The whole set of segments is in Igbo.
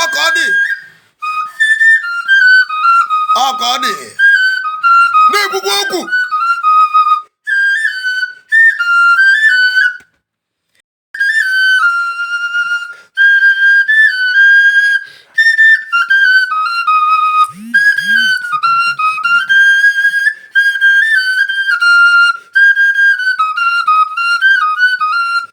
ọka ọ dị ọka ọ dị na-ekwukwa okwu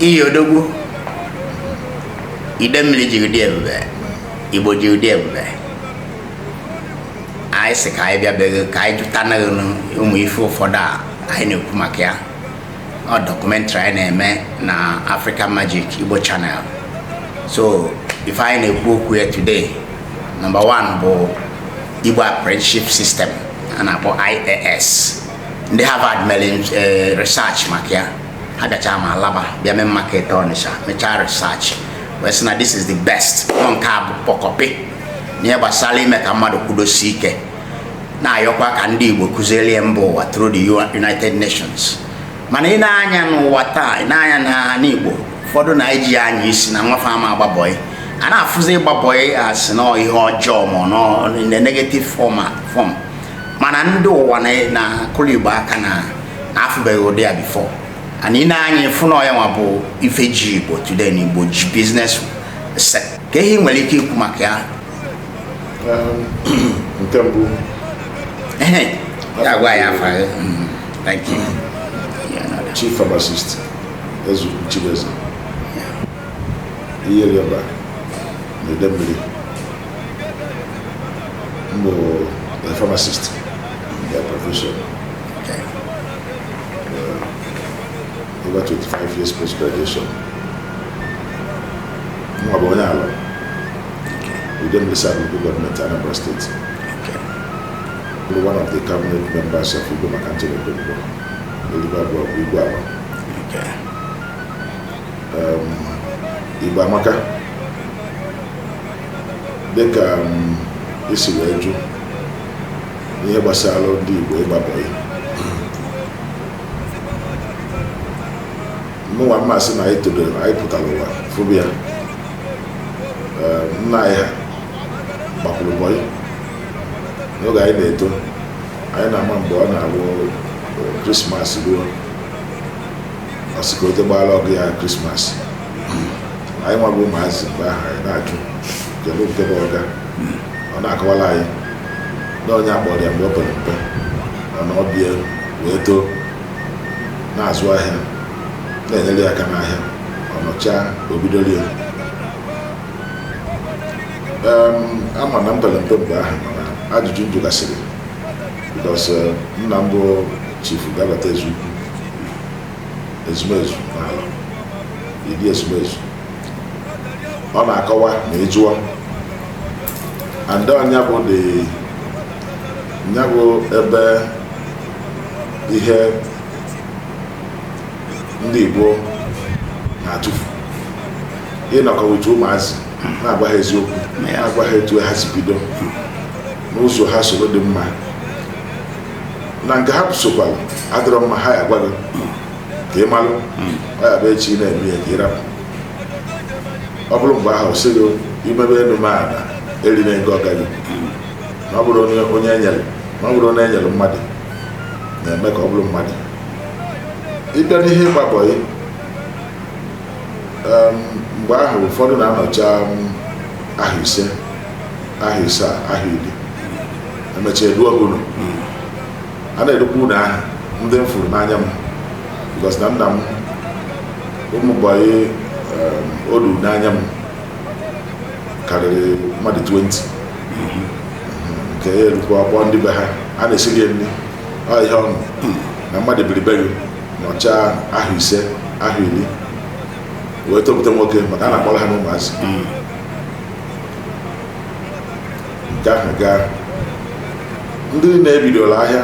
iyi odogwu Idemmili ji ụdị ebube igbo ji ụdị ebube anyị sị ka anyị bịa be ghị ka anyị jụtanụ ghị ụmụ ife ụfọdụ a anyị na-ekwu maka ya ọ documentary anyị na-eme na African Magic Igbo Channel so ife anyị na-ekwu okwu ya today number one bụ Igbo Apprenticeship System a na-akpọ IAS ndị Harvard mere eh, research maka ya ha gachaa ma Alaba bịa Main Market Ọnịsha mechaa research wee sị na this is the best na nke a bụ kpọkọpị n'ihe gbasara ime ka mmadụ kwudosie ike na-ayọkwa ka ndị Igbo kụziere ya mba ụwa through the United Nations mana i nee anya n'ụwa taa i nee anya n'ala Igbo ụfọdụ na-eji ya anya isi na nwa fa ama agba bọị a na-afụzi ịgba bọị a sị na ihe ọjọọ ma ọ na negative form mana ndị ụwa na-akụlụ igbo aka na afụbeghị ụdị ya before and i nee anya ị fụ na ọ ya nwa bụ ife ji igbo today na igbo ji business set kee ihe i nwere ike ikwu maka ya um, nke mbụ ya gwa anyị afa mm, thank you chief pharmacist ezu Chibueze Iyierioba na Idemmili M bụ a pharmacist by profession. Okay. Uh, over 25 years post graduation. Mụwa bụ onye Alor, Idemmili South local government Anambra State. Okay. Bụrụ one of the cabinet members of Igwe MacAnthony Okonkwo. Elibe bụkwa Igwe Alor. Okay. Um, Igbo Amaka. dịka i si wee jụ n'ihe gbasara ndị Igbo ịgba bọyị mụnwa m ma-asị na anyị todoro anyị pụtara ụwa fụbụ ya nna anyị ha gbakwuru bọyị n'oge anyị na-eto anyị na-ama mgbe ọ na-abụ krismas ruo ọsịkote gbara ọgụ ya krismas anyị nwa bụ ụmụazị mgbe ahụ anyị na-ajụ kedu nke bụ ọga ọ na-akọwara anyị na onye akpọrọ ya mgbe o pere mpe ọ nọọ be ya wee too na-azụ ahịa na-enyere ya aka n'ahịa ọ nọchaa o bidoro ya ama na m pere mpe mgbe ahụ mana ajụjụ m jụgasịrị because nna m bụ chifu gabata ezukwu ezumezu n'ala ịdị ezumezu ọ na-akọwa na ị jụọ and nya bụ dị nya bụ ebe ihe ndị Igbo na-atụfu ịnọkọ with ụmụazị na-agwa ha eziokwu na-agwa ha etu ha si bido n'ụzọ ha soro dị mma na nke ha sokwara adịrọ mma ha ya-agwa gị ka ị malụ ọ ya-abụ echi ị na-eme ya ka ị rapụ ọ bụrụ mgbe ahụ sị gị imebe elu m ala erina ego ọga gị na ọ bụrụ onye onye enyere na ọ bụrọ onye e nyere mmadụ na-eme ka ọ bụrụ mmadụ ị bịa n'ihe ịgba bọyị em, mgbe ahụ ụfọdụ na-anọcha m, ahọ ise ahọ isaa, ahọ iri emecha e duo gị ụnọ a na-edukwa ụlọ ahụ ndị m furu n'anya m because na nna m ụmụ bọyị o duru n'anya m karịrị mmadụ 20 nke ya erukwa a kpọọ ndị be ha a na-esiri ya nri ọ ihe ọṅụ na mmadụ biri be gị nọcha ahọ ise ahọ iri wee toputa nwoke maka a na-akpọrọ ha n'ụmụazị nke ahụ gaa ndị na-ebidola ahịa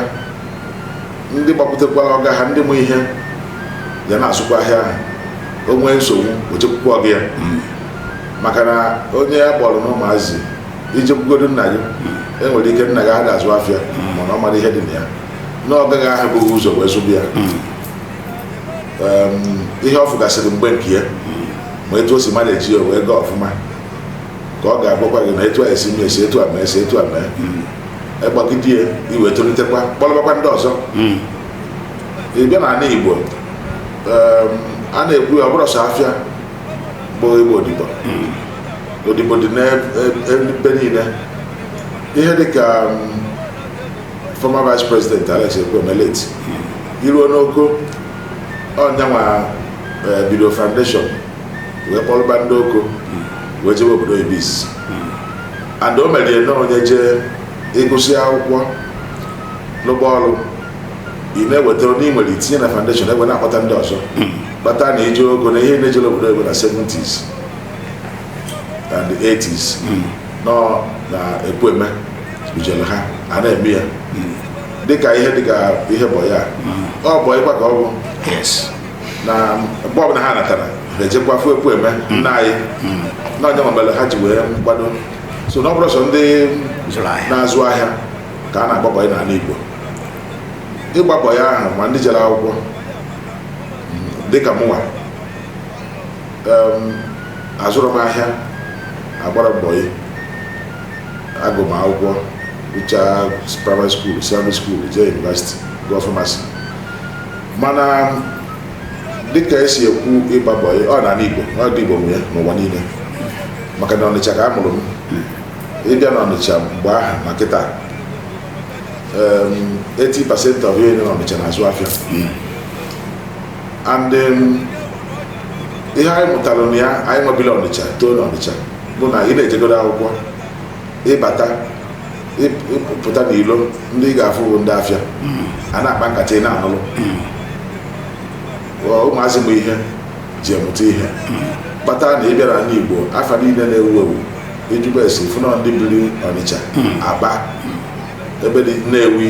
ndị gbapụtakwara ọga ha ndị ma ihe ya na-azụkwa ahịa ahụ o nwee nsogbu o jekwukwa ọga ya maka na onye a kpọọrọ n'ụmụazị i jekwugodu nna gị e nwere ike nna gị ada azụ afịa mana ọ mara ihe dị na ya na ọga gị ahụ bu gị ụzọ wee zụba ya Em, ihe ọ fụgasịrị mgbe nke ya ma etu o si manage ya wee gaa ọfụma ka ọ ga-agwakwa gị na etu a esi mee esi etu a mee esi etu a mee ị gbagide ya i wee tolitekwa kpọlọbakwa ndị ọzọ ị bịa n'ala igbo em, a na-ekwu ya ọ bụrọ sọ afịa bụ ịgba odibo odibo dị n'ebe niile ihe dị ka em, former vice president alex ekwueme late i ruo n'oko ọ nyanwa eh, bido foundation wee kpọrọba ndị Oko wee jebe obodo oyibo and o mere na onye jee ịgụsị akwụkwọ rụba ọrụ ị na-eweta onye ị nwere itinye na foundation e wee na-akpọta ndị ọzọ kpata na i jee Oko na ihe niile jere obodo oyibo na 70s and 80s nọ na Ekwueme bujere ha a na-eme ya dịka ihe dịka ihe bọyị a ọ bụ ịkwa ka ọ bụ yes na mgbe ọbụla ha natara ha ejekwa fụ Ekwueme nna anyị na ọ nya nwa mere ha ji wee gbado so na ọ bụrọ sọ ndị zụrụ ahịa na-azụ ahịa ka a na-agba bọyị n'ala Igbo ịgba bọyị ahụ ma ndị jere akwụkwọ dịka mụnwa em, azụrụ m ahịa agbara m bọyị agụ m akwụkwọ gụchaa primary school secondary school jee university gụọ pharmacy mana dịka esi ekwu ịgba bọyị ọ n'ala Igbo ọ ndị Igbo nwe ya n'ụwa niile maka na Ọnịcha ka a mụrụ m ị bịa na Ọnịcha mgbe ahụ ma kịta 80% of ihe nọ na Ọnịcha na-azụ afịa and ihe anyị mụtara na ya anyịnwa biri Ọnịcha too na Ọnịcha bụ na ị na-ejegodo akwụkwọ ị bata ị pụta n'ilo ndị ị ga-afụ bụ ndị afịa a na-akpa nkata ị na-anụlụ ụmụazị bụ ihe eji amụta ihe kpata na ị bịa n'ala Igbo afa niile na-ewu ewu ijikwa esi fụ na ọ ndị biri Ọnịcha Aba ebe dị Nnewi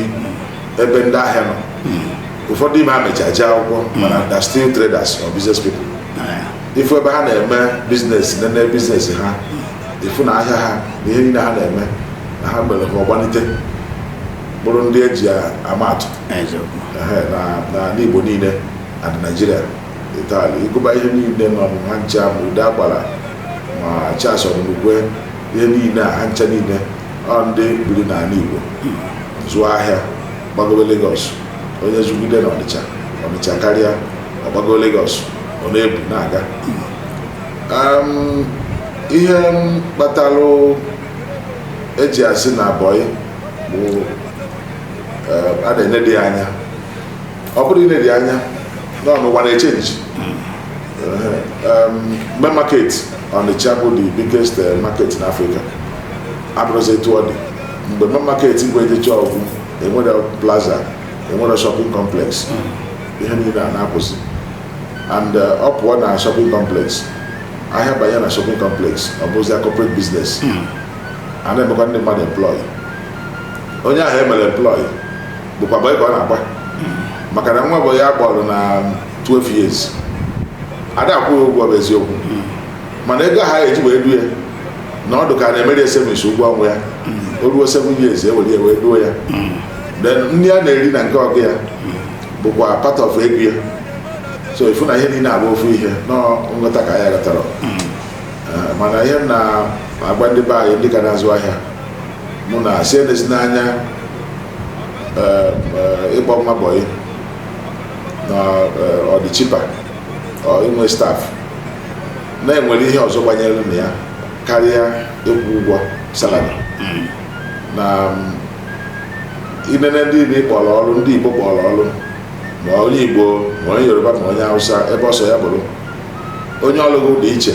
ebe ndị ahịa nọ ụfọdụ ime ha mechaa jee akwụkwọ mana they are still traders or business people ị fụ ebe ha na-eme biznes nene biznes ha ị fụ na ahịa ha na ihe niile ha na-eme na ha mere ha gbalite bụrụ ndị eji ama atụ n'ala Igbo niile and in Naịjirịa entirely ị gụba ihe niile nọ ha ncha ma Udeagbala ma Charles Odunukwe ihe niile a ha ncha niile ọ ndị biri n'ala Igbo zụọ ahịa gbagobe Lagos onye zụgide na Ọnịcha Ọnịcha karịa ọ gbago Lagos ọ na-ebu na-aga ihe kpatara eji asị na abọyị bụ a na-enedi anya ọ bụrụ i nedi anya na ọ ụwa na-echenji Main Market Ọnịcha bụ the biggest eh, market in Afrịka abụrọzi etu ọ dị mgbe Main Market bụ ejechaa ọ gwụ enwere plaza enwere shopping complex ihe niile a na-akwụsị and uh, ọ pụọ na shopping complex ahịa banye na shopping complex ọ bụzi a corporate business hmm. a na-emekwa ndị mmadụ employ onye ahụ emere employ bụkwa bọyị ka ọ na-agba hmm. maka na nwa bọyị a kpọrọ na 12 years ada akwụ ụgwọ bụ eziokwu hmm. mana ego ha eji wee due ya na ọdụ ka a na-emere savings ụgwọ ọnwa ya o ruo 7 years e were ya wee duo ya then nri ọ na-eri na nke ọga ya bụkwa part of egwu ya so ifu na ihe niile a bụ ofu ihe na ọ nghọta ka anyị ghọtara Eh, mana ihe m na-agwa ndị be anyị ndị ka na-azụ ahịa mụ na-asị enezina anya eh, eh, ịgba nwa bọyị na eh, ọ dị cheaper or inwe staff na e nwere ihe ọzọ gbanyere na ya karịa ịkwụ ụgwọ salary na mm, i nene ndị ị kpọrọ ọrụ ndị Igbo kpọrọ ọrụ ma onye Igbo ma onye Yoruba ma onye Hausa ebe ọ sọ ya bụrụ onye ọlụ gị dị iche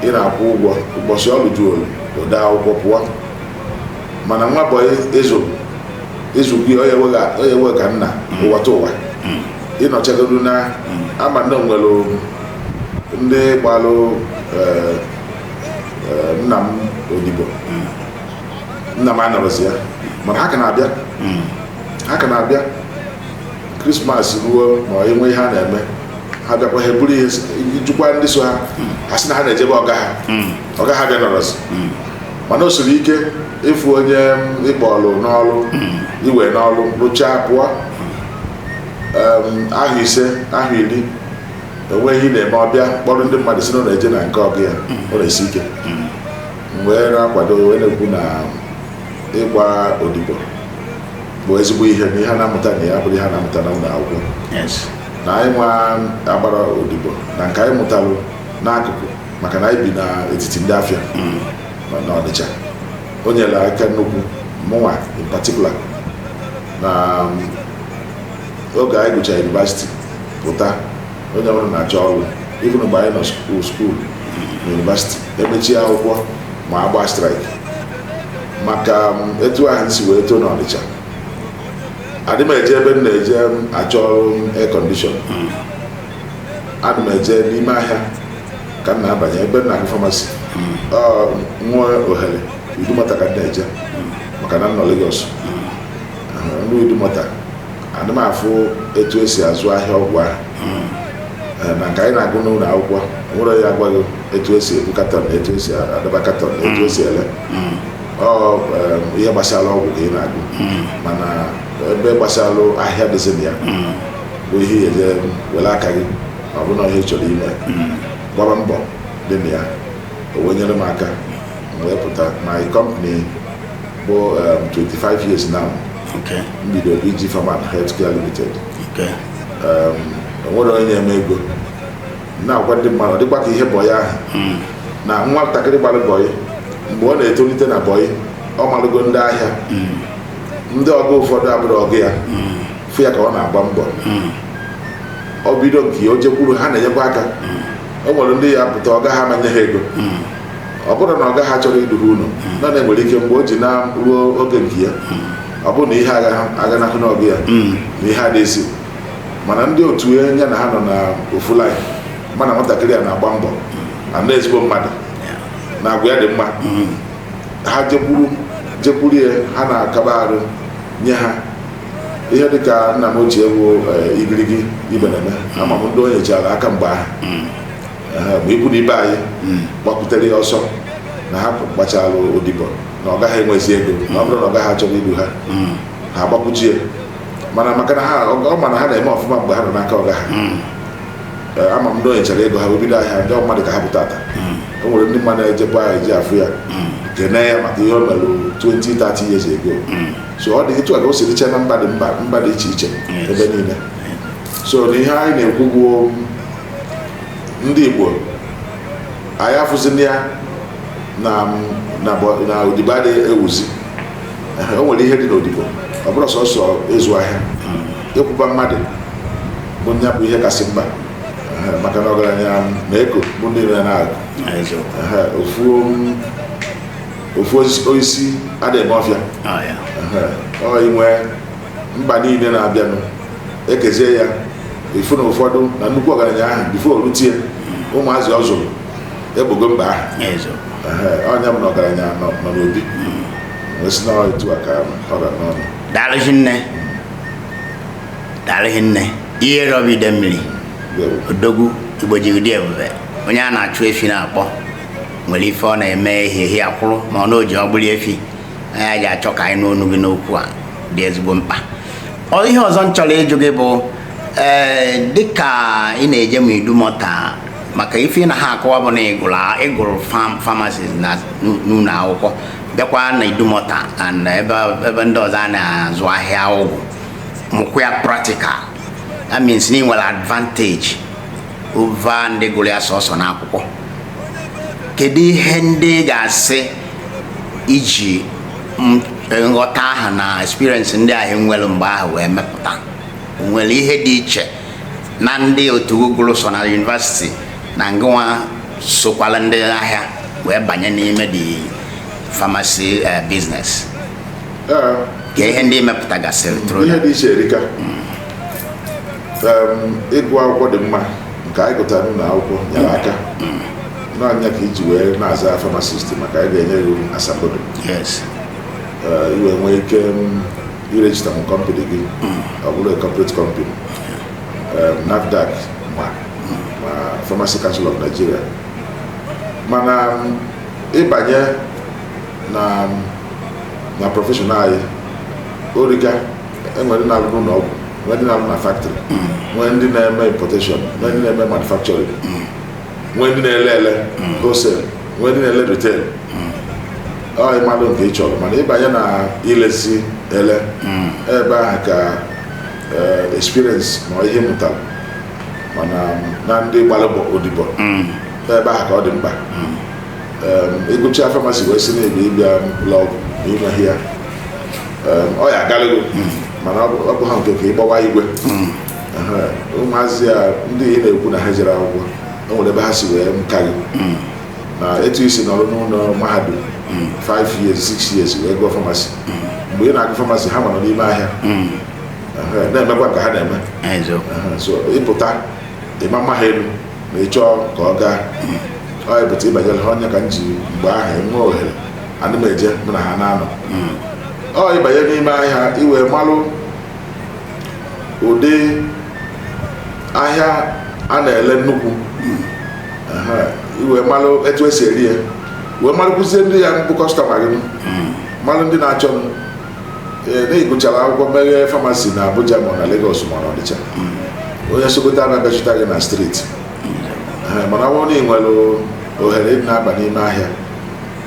ị na-akwụ ụgwọ ụbọchị ọrụ ju o dee akwụkwọ pụọ mana nwa bọyị ịzụ ịzụkwu ya ọ ya-ewe gị ka nna ụwatụwa ị nọchagodu na ama m na e nwere ndị gbalụ nna m odibo nna m anọrọzi ya mana ha ka na-abịa hmm. ha ka na-abịa krismas ruo ma e nwee ihe a na-eme ha bịakwa ha eburu ihe jikwa ndị so ha hmm. ha sị na ha na-eje be ọga ha hmm. ọga ha bịa nọrọzi mana o siri ike ịfụ onye ị kpọlụ n'ọrụ i we n'ọrụ rụchaa pụọ afọ ise afọ iri e nwee ihe ị na-eme ọ bịa kpọrọ ndị mmadụ sị na ọ na-eje na nke ọga ya ọ na-esi ike wee na-akwado wee na-ekwu na ịgba odibo bụ ezigbo ihe na ihe a na-amụta na ya abụrọ ihe a na-amụta na ụlọ akwụkwọ yes na anyịnwa agbarọ odibo na nke anyị mụtalụ n'akụkụ maka na anyị bi n'etiti ndị afịa nọ n'ọnịcha o nyere aka nnukwu mụnwa in particular na um, oge anyị gụchara university pụta onye ọbụla na-achọ ọrụ even mgbe anyị nọ school school na university e mechie akwụkwọ ma a gbaa strike maka etu ahụ m si wee too n'ọnịcha adị m eje ebe m na-eje achọ ọrụ air condition hmm. adị m eje n'ime ahịa ka m na-abanye ebe m na-agụ pharmacy hmm. m nwee ohere Idumota ka m na-eje hmm. maka na m nọ Lagos m ruo Idumota ana m afụ etu esi azụ ahịa ọgwụ ahụ Eh, na nke anyị na-agụ n'ụlọ akwụkwọ nwere ya agwa gị etu esi ebu katọn na etu esi adọba katọn na etu esi ele ọ eh, ihe gbasara ọgwụ ka ị na-agụ mana ebe gbasara ahịa dịzi na ya bụ ihe ị ga-eje were aka gị ma ọ bụ na ihe ị chọrọ ime gbaba mbọ dị na ya o wee nyere m aka m wepụta my company bụ 25 um, years now m bidoro iji Pharm and Healthcare Limited um, o nwere onye na-eme ego na-agwa ndị mmadụ dịkwa ka ihe bọyị ahụ hmm. na nwa ntakịrị gbara bọyị mgbe ọ na-etolite na bọyị ọ malụgo ndị ahịa hmm. ndị ọga ụfọdụ abụrọ ọga ya hmm. fụ ya ka ọ na-agba mbọ ọ bido nke o jekwuru ha na-enyekwa aka o nwere ndị ya-apụta ọga ha ama nye ha ego ọ bụrụ na ọga ha achọrọ idu ha ụnọ na na enwere ike mgbe o ji eruo oge nke ya ọ bụrụ na ihe aganahụ n'ọga ya na ihe adịghịzi mana ndị otu ya ya na ha nọ na ofu laịn mana nwatakịrị a na-agba mbọ na na ezigbo mmadụ na agwa ya dị mma ha jekwuru jekwuru ya ha na-akaba arụ nye ha ihe dị ka nna m ochie bụ Igirigi Ibeneme ama m ndị o nyechara aka mgbe ahụ mgbe ikwu na ibe anyị hmm. gbakwutere ya ọsọ na ha gbachara odibo na ọga ha enwezi ego na ọ bụrụ na ọga ha achọrọ idu ha hmm. ha agbakwute ya mana maka na ha ọ ma na ha na-eme ọfụma mgbe ha nọ n'aka ọga ha hmm. eh, ama m ndị o nyechara ego ha bido ahịa ndị mmadụ ka ha pụta taa o nwere ndị mmadụ na-ejekwa ahụ eje afụ ya kene ya maka ihe ọ mere 20 30 years ago so ọ dị etu a ka o si dịcha na mba dị mba dị iche iche ebe niile so na ihe anyị na-ekwu bụ ndị Igbo anyị afụzina ya na na bọ- na odibo adịghị ewuzi Ehe, o nwere ihe dị n'odibo ọ bụrọ sọsọ ịzụ ahịa ịkwụba mmadụ bụ nya bụ ihe kasị mkpa Ehe, maka na ọgaranya na-eko bụ ndị nwe ya ọ bụ eziokwu Ehe, ofu um, ofu osisi ada eme ọfịa Ah, ya. Ehe, ọ inwe mkpa niile na-abịanụ e kezie ya ị fụ na ụfọdụ na nnukwu ọgaranya ahụ before o rutie ụmụazị ọ zụrụ egbogo mkpa ahụ Ezo. Ehe, onye bụ na ọgaranya nọ nọ n'obi wee sị na ọ etu a ka ọ ga-anọnụ daalụ hinne daalụ hinne Iyierioba Idemmili Ndewo. odogwu Igbo jigide ebube onye a na-achụ efi na-akpọ nwere ife ọ na-eme ehihie akwụrụ ma ọ na o ji ọgbụli efi anyị ga-achọ ka anyị nụ ọnụ gị n'okwu a dị ezigbo mkpa ihe ọzọ m chọrọ ịjụ gị bụ ee eh, dịka ị na-eje m idumọta maka ife ị na-akọwa bụ na ị gụrụ famasi na n'ụlọ akwụkwọ bịakwa na idumọta and ebe ndị ọzọ a na-azụ ahịa ọgwụ mụkwa ya practical that means na ị nwere advantage over ndị gụrụ ya sọsọ n'akwụkwọ kedu ihe ndị ị ga-asị i ji nghọta ahụ na experience ndị ahụ i nwere mgbe ahụ wee mepụta nwere ihe dị iche na ndị otu gị gụrụ sọ na yunivasiti na ngịnwa sokwala ndị ahịa wee banye n'ime the famasi eh, biznes kee ihe ndị ị mepụtagasịrị tụrụ ihe dị iche erika ịgụ akwụkwọ dị mma nke anyị gụtara n'ụlọ akwụkwọ nyere aka na ọ nya ka i ji wee na-aza famasisti maka a ga-enye gị asambodo i wee nwee ike irejista em kọmpani gị ọ bụrụ corporate kọmpani NAFDAC ma ma Pharmacy Council of Nigeria mana ị banye na na prọfeshọn anyị o rika e nwere ndị na-arụ n'ụlọ ọgwụ nwee ndị na-arụ na factory nwee ndị na-eme importation nwee ndị na-eme manufacturing nwee ndị na-ele ele wholesale nwee ndị na-ele retail ọ ịmalụ nke ị chọrọ mana ị banye na ilezi ele ebe ahụ ka eh, experience na ihe m mụtara mana na ndị gbara bọ- odibo ebe ahụ ka ọ dị mkpa Em, ị gụcha famasi wee si na-ebi ịbịa ụlọ ọgwụ na i nweghị ya Ee, ọ ya agalịgo mana ọ bụ ọ bụ ha nke ka ịgbawa igwe Aha, ụmụazị a ndị ị na-ekwu na ha ejero akwụkwọ o nwere ebe ha si wee ka gị na etu i si nọrọ n'ụlọ mahadum 5 years 6 years wee gụọ famasi mgbe ị na-agụ famasi ha nọrọ n'ime ahịa Aha, na-emekwa ka ha na-eme Eziokwu. Aha, so ị pụta ị ma-ama ha elu ma ị chọọ ka ọ gaa ọ ebụta ịbanyere ha ọ nya ka m ji mgbe ahụ m nwee ohere ana m eje mụ na ha na-anọ ọ ịbanye n'ime ahịa i wee malụ ụdị ahịa a na-ele nnukwu Aha, i wee malụ etu e si ere ya wee malụkwuzie ndị ya-abụ kọstọma gị malụ ndị na-achọ m ee na ị gụchara akwụkwọ meghee famasi na abuja ma ọ na legos ma ọ na ọnịcha onye sokoto ama bịa chọta gị na street Ee, mana ọ bụrụ na ị nwere ohere ịdị na-aba n'ime ahịa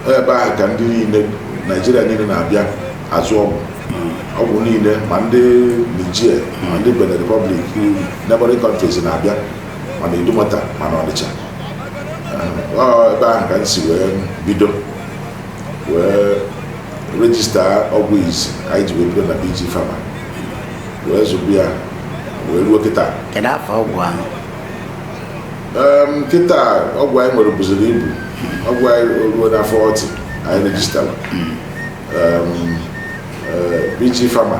ọ ebe ahụ ka ndị niile naijiria niile na-abịa azụ ọgwụ ọgwụ niile ma ndị nigeria ma ndị benin republic neighboring countries na-abịa ma n'idumota ma n'ọnịcha Ee, ọ ebe ahụ ka m si wee bido wee rejista ọgwụ izizi anyị ji wee bido na BG Pharma wee zụba ya wee ruo kịta kedu afọ ọgwụ ahụ kịta ọgwụ anyị nwere buziri ibu ọgwụ anyị eruola forty anyị rejistara BG Pharma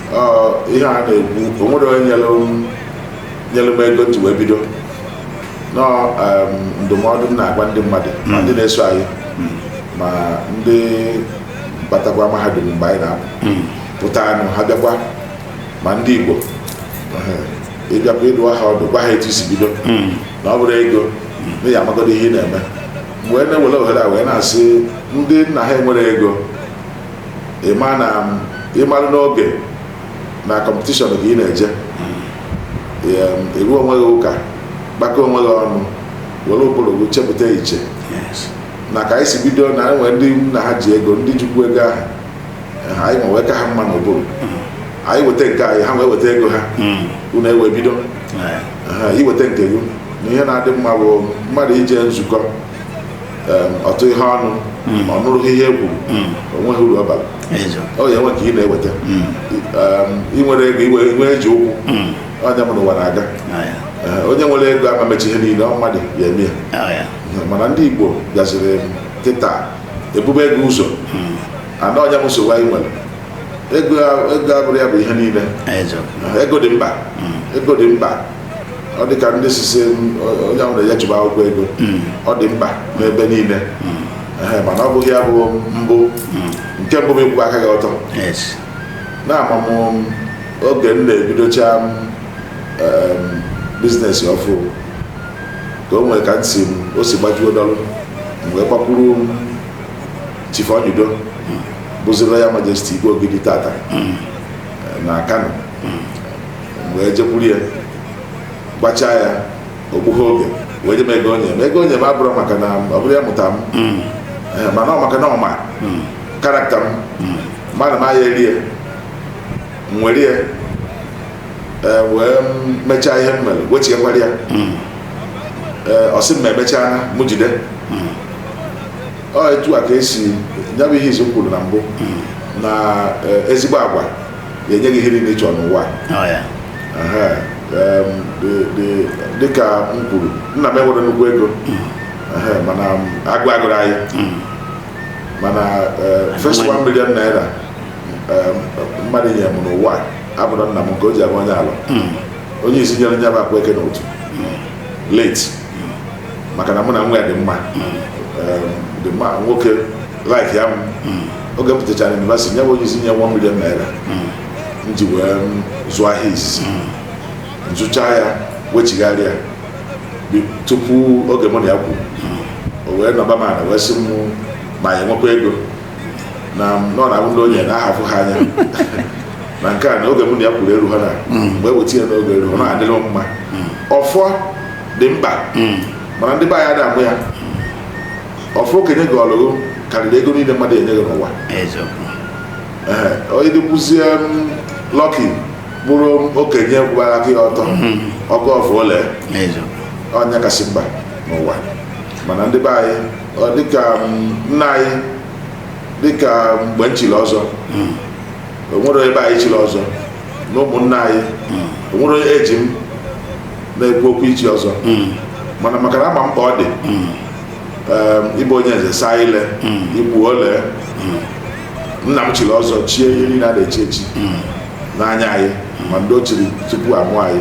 ihe a na-ekwu o nwerọ onye nyere m ego m ji wee bido nọ ndụmọdụ m na-agwa ndị mmadụ ma ndị na-eso anyị ma ndị batakwa mahadum mgbe anyị na-apụtanụ ha bịakwa ma ndị Igbo ịbịakwa ịdụ ha ọdụ gwa ha etu i si bido na ọ bụrọ ego na ị ya amagodu ihe ị na-eme mgbe na-ewere ohere a wee na-asị ndị nna ha enwerọ ego ị ma na ị mara n'oge na kọmpetishọn ka ị na-eje ịrụ onwe gị ụka gbakọ onwe gị ọnụ were ụbụrụ gị chepụta echiche na ka anyị si bido na e nwe ndị nna ha ji ego ndị jikwu ego ahụ anyị ma wee ka ha mma n'ụbụrụ anyị weta nke anyị ha wee weta ego ha unu ewee bido i weta nke gị na ihe na-adị mma bụ mmadụ ije nzukọ ọtụ ihe ọnụ hmm. ọ nụrụghị ihe e kwuru hmm. o nweghị uru ọ bara ọ ya enwe nke ị na-eweta hmm. ị nwere ego iwe nwe eji ụkwụ onye mụrụ ụwa na-aga eh, onye nwere ego ama emecha ihe niile ọ mmadụ ya eme ya mana ndị Igbo bịaziri kịta ebube ego ụzọ ana onye m nsogbu anyị nwere ego abụrọ ya bụ ihe niile ego dị mkpa ego dị mkpa ọ dị ka ndị sisi onye ahụ na-enye chụba akwụkwọ ego hmm. ọ dị mkpa n'ebe niile hmm. mana ọ bụghị ya bụ mbụ hmm. nke mbụ bụ ịkwụba aka gị ọtọ na ama m oge m na-ebidocha biznes ọfụ ka o nwere ka m si o si gbajuo dọlụ m wee gbakwuru Chief Onyido bụzi Royal Majesty Igwe Ogidi tata na Kano wee jekwuru ya gwachaa ya o gbughị oge wee nye m ego o nye m ego o nye m abụrọ maka na ọ bụrụ ya mụta m hmm. eh, mana ọ maka na ọ ma hmm. karakta m hmm. ma na m aya eri ya m were ya eh, wee mechaa ihe m mere wechighakwara ya eh, ọ sị m ma emechaa na mụ jide ọ etu a ka e si ya bụ ihe izizi m kwuru na mbụ na ezigbo agwa ya enye gị ihe niile ị chọ n'ụwa dịka m kwuru nna m enwerọ nnukwu ego hmm. mana agụụ agụrọ anyị hmm. mana e, first one million naira e, mmadụ nye m n'ụwa abụrọ nna m nke o ji abụ onye Alọ hmm. onye izizi nyere nye m akwa eke n'otu late maka na mụ na nwa ya dị mma dị mma nwoke like ya oge m pụtachara university nye m onye izizi nye one million naira m ji wee zụọ ahịa izizi m zụcha ya wechigharịa bi- tupu oge mụ na ya kwuru o wee nọba m ala wee sị m ma ya enwekwa ego na nọ na abụ ndị onye na ahafụ ha anya na nke a na oge mụ na ya kwuru eru ha na mgbe weta ya n'oge eru ọ na-adịrị m mma ọfọ dị mkpa mana ndị be anyị adamụ ya ọfọ okenye gọọlụ gị karịrị ego niile mmadụ enye gị n'ụwa eziokwu Ee, onye dịkwuzie lucky bụrụ okenye gbara aka ọtọ ọ gọọ ọfọ o lee eziokwu ọ nya kasị mkpa n'ụwa mana ndị be anyị ọ dịka m, nna anyị dịka mgbe m chiri ọzọ o nwere onye be anyị chiri ọzọ na ụmụnna anyị o nwere onye eji m na-ekwu okwu ichi ọzọ mana maka na ama m mkpa ọ dị Ee, ị bụ onye nze saa ile i kwu o lee nna m chiri ọzọ chie ihe niile a na-echi echi n'anya anyị ma ndị o chiri tupu a mụọ anyị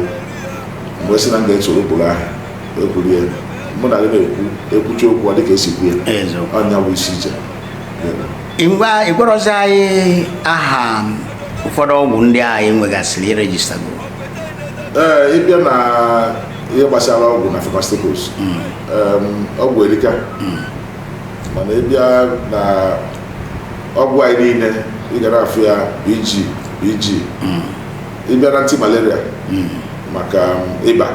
m wee sị na m ga-esoro ụkpụrụ ahụ wee kwuru ya mụ na gị na-ekwu e kwucha okwu ọ dịka e si kwuo ya Eziokwu. ọ nya bụ isi iche ngwa ị gwarọzi anyị aha ụfọdụ ọgwụ ndị a ị nwegasịrị i registergoro ee ị bịa na ihe gbasara ọgwụ na pharmaceuticals em, ọgwụ erika mana ị bịa na ọgwụ anyị niile ị ga na-afụ ya BG BG ị bịa na anti malaria maka um, ịba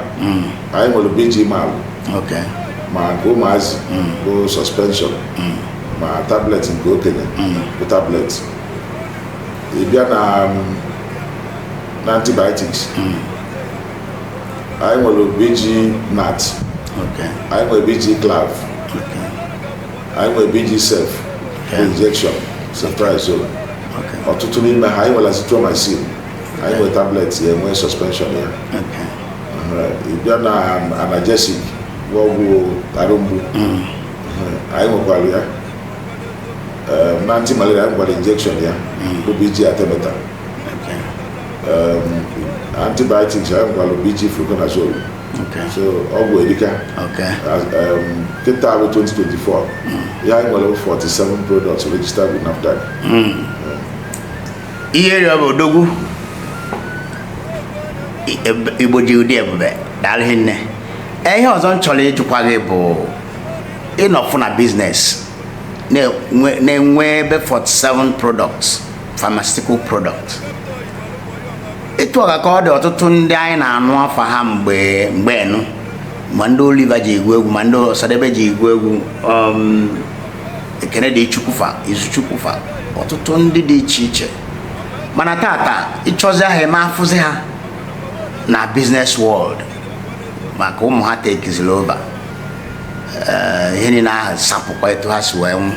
anyị nwere BG Mal ok ma nke ụmụazị bụ suspension ma tablet nke okenye bụ tablet ị bịa na um, na antibiotics anyị nwere BG Nat Okay. anyị nwere BG Clav Okay. anyị nwere BG Cef Okay. injection ceftriaxone Okay. ọtụtụ n'ime ha anyị nwere azithromycin anyị nwere tablet ya nwee suspension ya Okay. Aha, ị bịa na analgesic bụ ọgwụ arụ mgbu Aha, anyị nwekwara ya Ee, na anti malaria anyị nwekwara injection ya bụ BG Artemether antibiotics anyị nwekwara BG fluconazole so ọgwụ erika kịta bụ 2024 ya anyị nwere 47 products registered with NAFDAC ihe rịọ bụ odogwu igbo ji ụdị ebube daalụ rinne ihe ọzọ m chọrọ ịjụkwa gị bụ ị nọfụ na biznes na-enwe ebe 47 products pharmaceutical product etu a ka ọ dị ọtụtụ ndị anyị na-anụ afa ha mgbe mgbe enu ma ndị Oliver ji agụ egwu ma ndị Osadebe ji agụ egwu um, Ekene Dili Chukwu fa Izuchukwu fa ọtụtụ ndị dị iche iche mana tata ị chọzia ha ị ma afụzi ha na biznes world maka ụmụ ha takeziri over eh, ihe niile ahụ sapụkwa etu ha si wee nwụ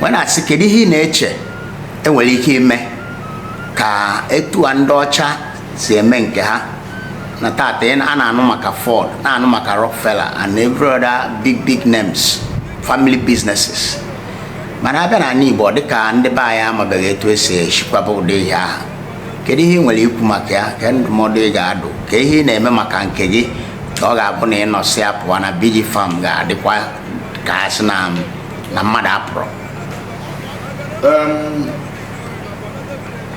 wee na-asị kedu ihe ị na-eche e nwere ike ime ka etu a ndị ọcha si eme nke ha na tata a na-anụ maka Ford na-anụ maka Rockefeller and every other big big names family businesses mana a bịa na ala Igbo dịka ndị be anyị amabeghị etu e si echikwaba ụdị ihe ahụ kedu ihe ị nwere ikwu maka ya ka ndụmọdụ ị ga-adụ ka ihe ị na-eme maka nke gị ka ọ ga-abụ na ị nọsịa pụọ na BG Pharm ga-adịkwa ka a sị na na mmadụ apụrọ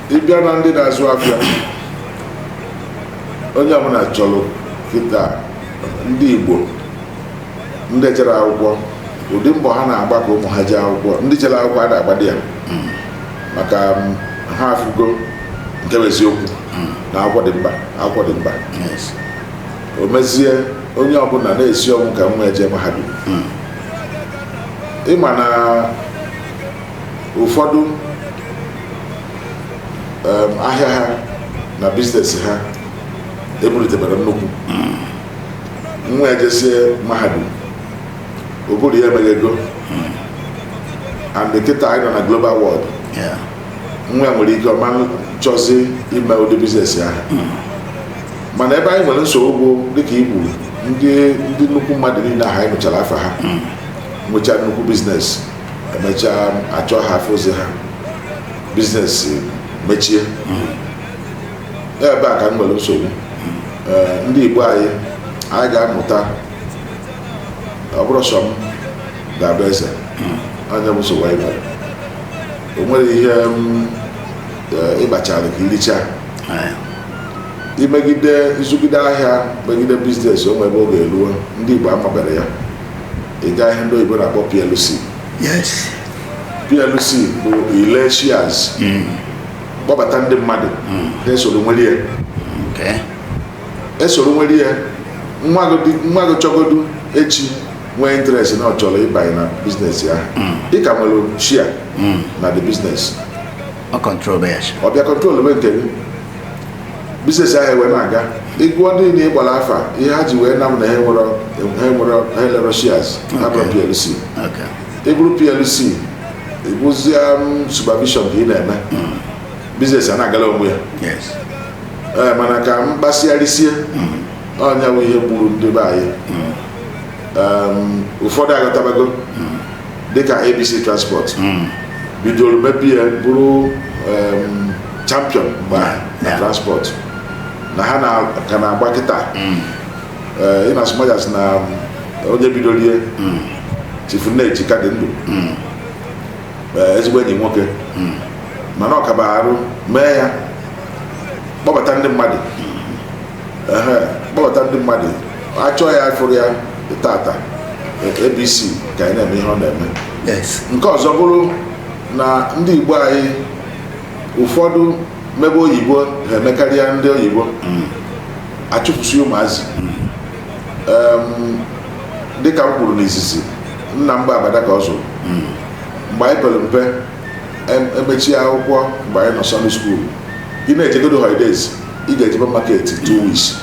ị bịa na ndị na-azụ afịa onye ọbụla chọrọ kịta ndị Igbo ndị ejerọ akwụkwọ ụdị mbọ ha na-agba ka ụmụ ha jee akwụkwọ ndị jere akwụkwọ a na-agbadi ya maka um, ha afụgo nke bụ eziokwu na akwụkwọ dị mkpa akwụkwọ dị mkpa o mezie onye ọbụla na-esi ọnwụ ka nwa ya jee mahadum hmm. ị ma na ụfọdụ ahịa ha na biznes ha ebuliteberọ nnukwu hmm. nwa ya jesie mahadum ụbụrụ ya emeghego hmm. and kịta anyị nọ na global world nwa nwere ike ọ ma achọzi ime ụdị biznes ahụ mana ebe anyị nwere nsogbu bụ dịka i kwuru ndị ndị nnukwu mmadụ niile ahụ anyị nụchara afa ha nwechaa nnukwu biznes emechaa a chọọ ha afụrọzi ha biznes mechie ebe a ka m nwere nsogbu Ee, ndị igbo anyị anyị ga-amụta ọ bụrụ sọ m ga-abụ eze ọ nya bụ nsogbu anyị nwere o nwere ihe m, ee, ị kpachara ka i richaa Ee. imegide ịzụgide ahịa megide biznes o nwebe oge eruo ndị igbo amabere ya ịga ihe ndị oyibo na-akpọ plc yes plc bụ ile shares kpọbata ndị mmadụ ha esoro nwere ya okay esoro nwere ya nwa gị dị- nwa gị chọgodu echi nwee interest na ọ chọrọ ịbanye na biznes ya ị ka nwere share na the biznes ọ control bụ ya sha. ọ bịa controlbe nke gị biznes ahụ wee na-aga ị gụọ ndị na ị gbara afa ihe ha ji wee nam na ha nwere ha nwere ha lere shares ha bụrụ plc Okay. ị bụrụ plc ị bụzie supervision ka ị na-eme biznes a na-agala onwe ya Yes. Ee, mana ka m kpasịa risie ọ nya bụ ihe gburu ndị be anyị um, ụfọdụ aghọtabago hmm. dịka abc transport hmm. bidoro mebe ya bụrụ um, champion mgbe na transport na ha ka na-agba kịta hmm. uh, in as much as na um, onye bidoro ya chief nneji ka dị ndụ uh, ezigbo enyi nwoke mana ọ kaba arụ mee ya kpọbata ndị mmadụ kpọbata ndị mmadụ a chọọ ya a fụrụ ya tata abc ka nọ na-eme ihe ọ na-eme nke ọzọ bụrụ na ndị igbo anyị ụfọdụ mebe oyibo ha emekarịa ndị oyibo mm. achụpụsị ụmụazị mm. dịka m kwuru n'izizi nna m bụ abada ka ọ zụrụ mm. mgbe anyị pere mpe e mechie akwụkwọ mgbe anyị nọ secondary school ị na-ejegodu holidays ị ga-ejebe market two weeks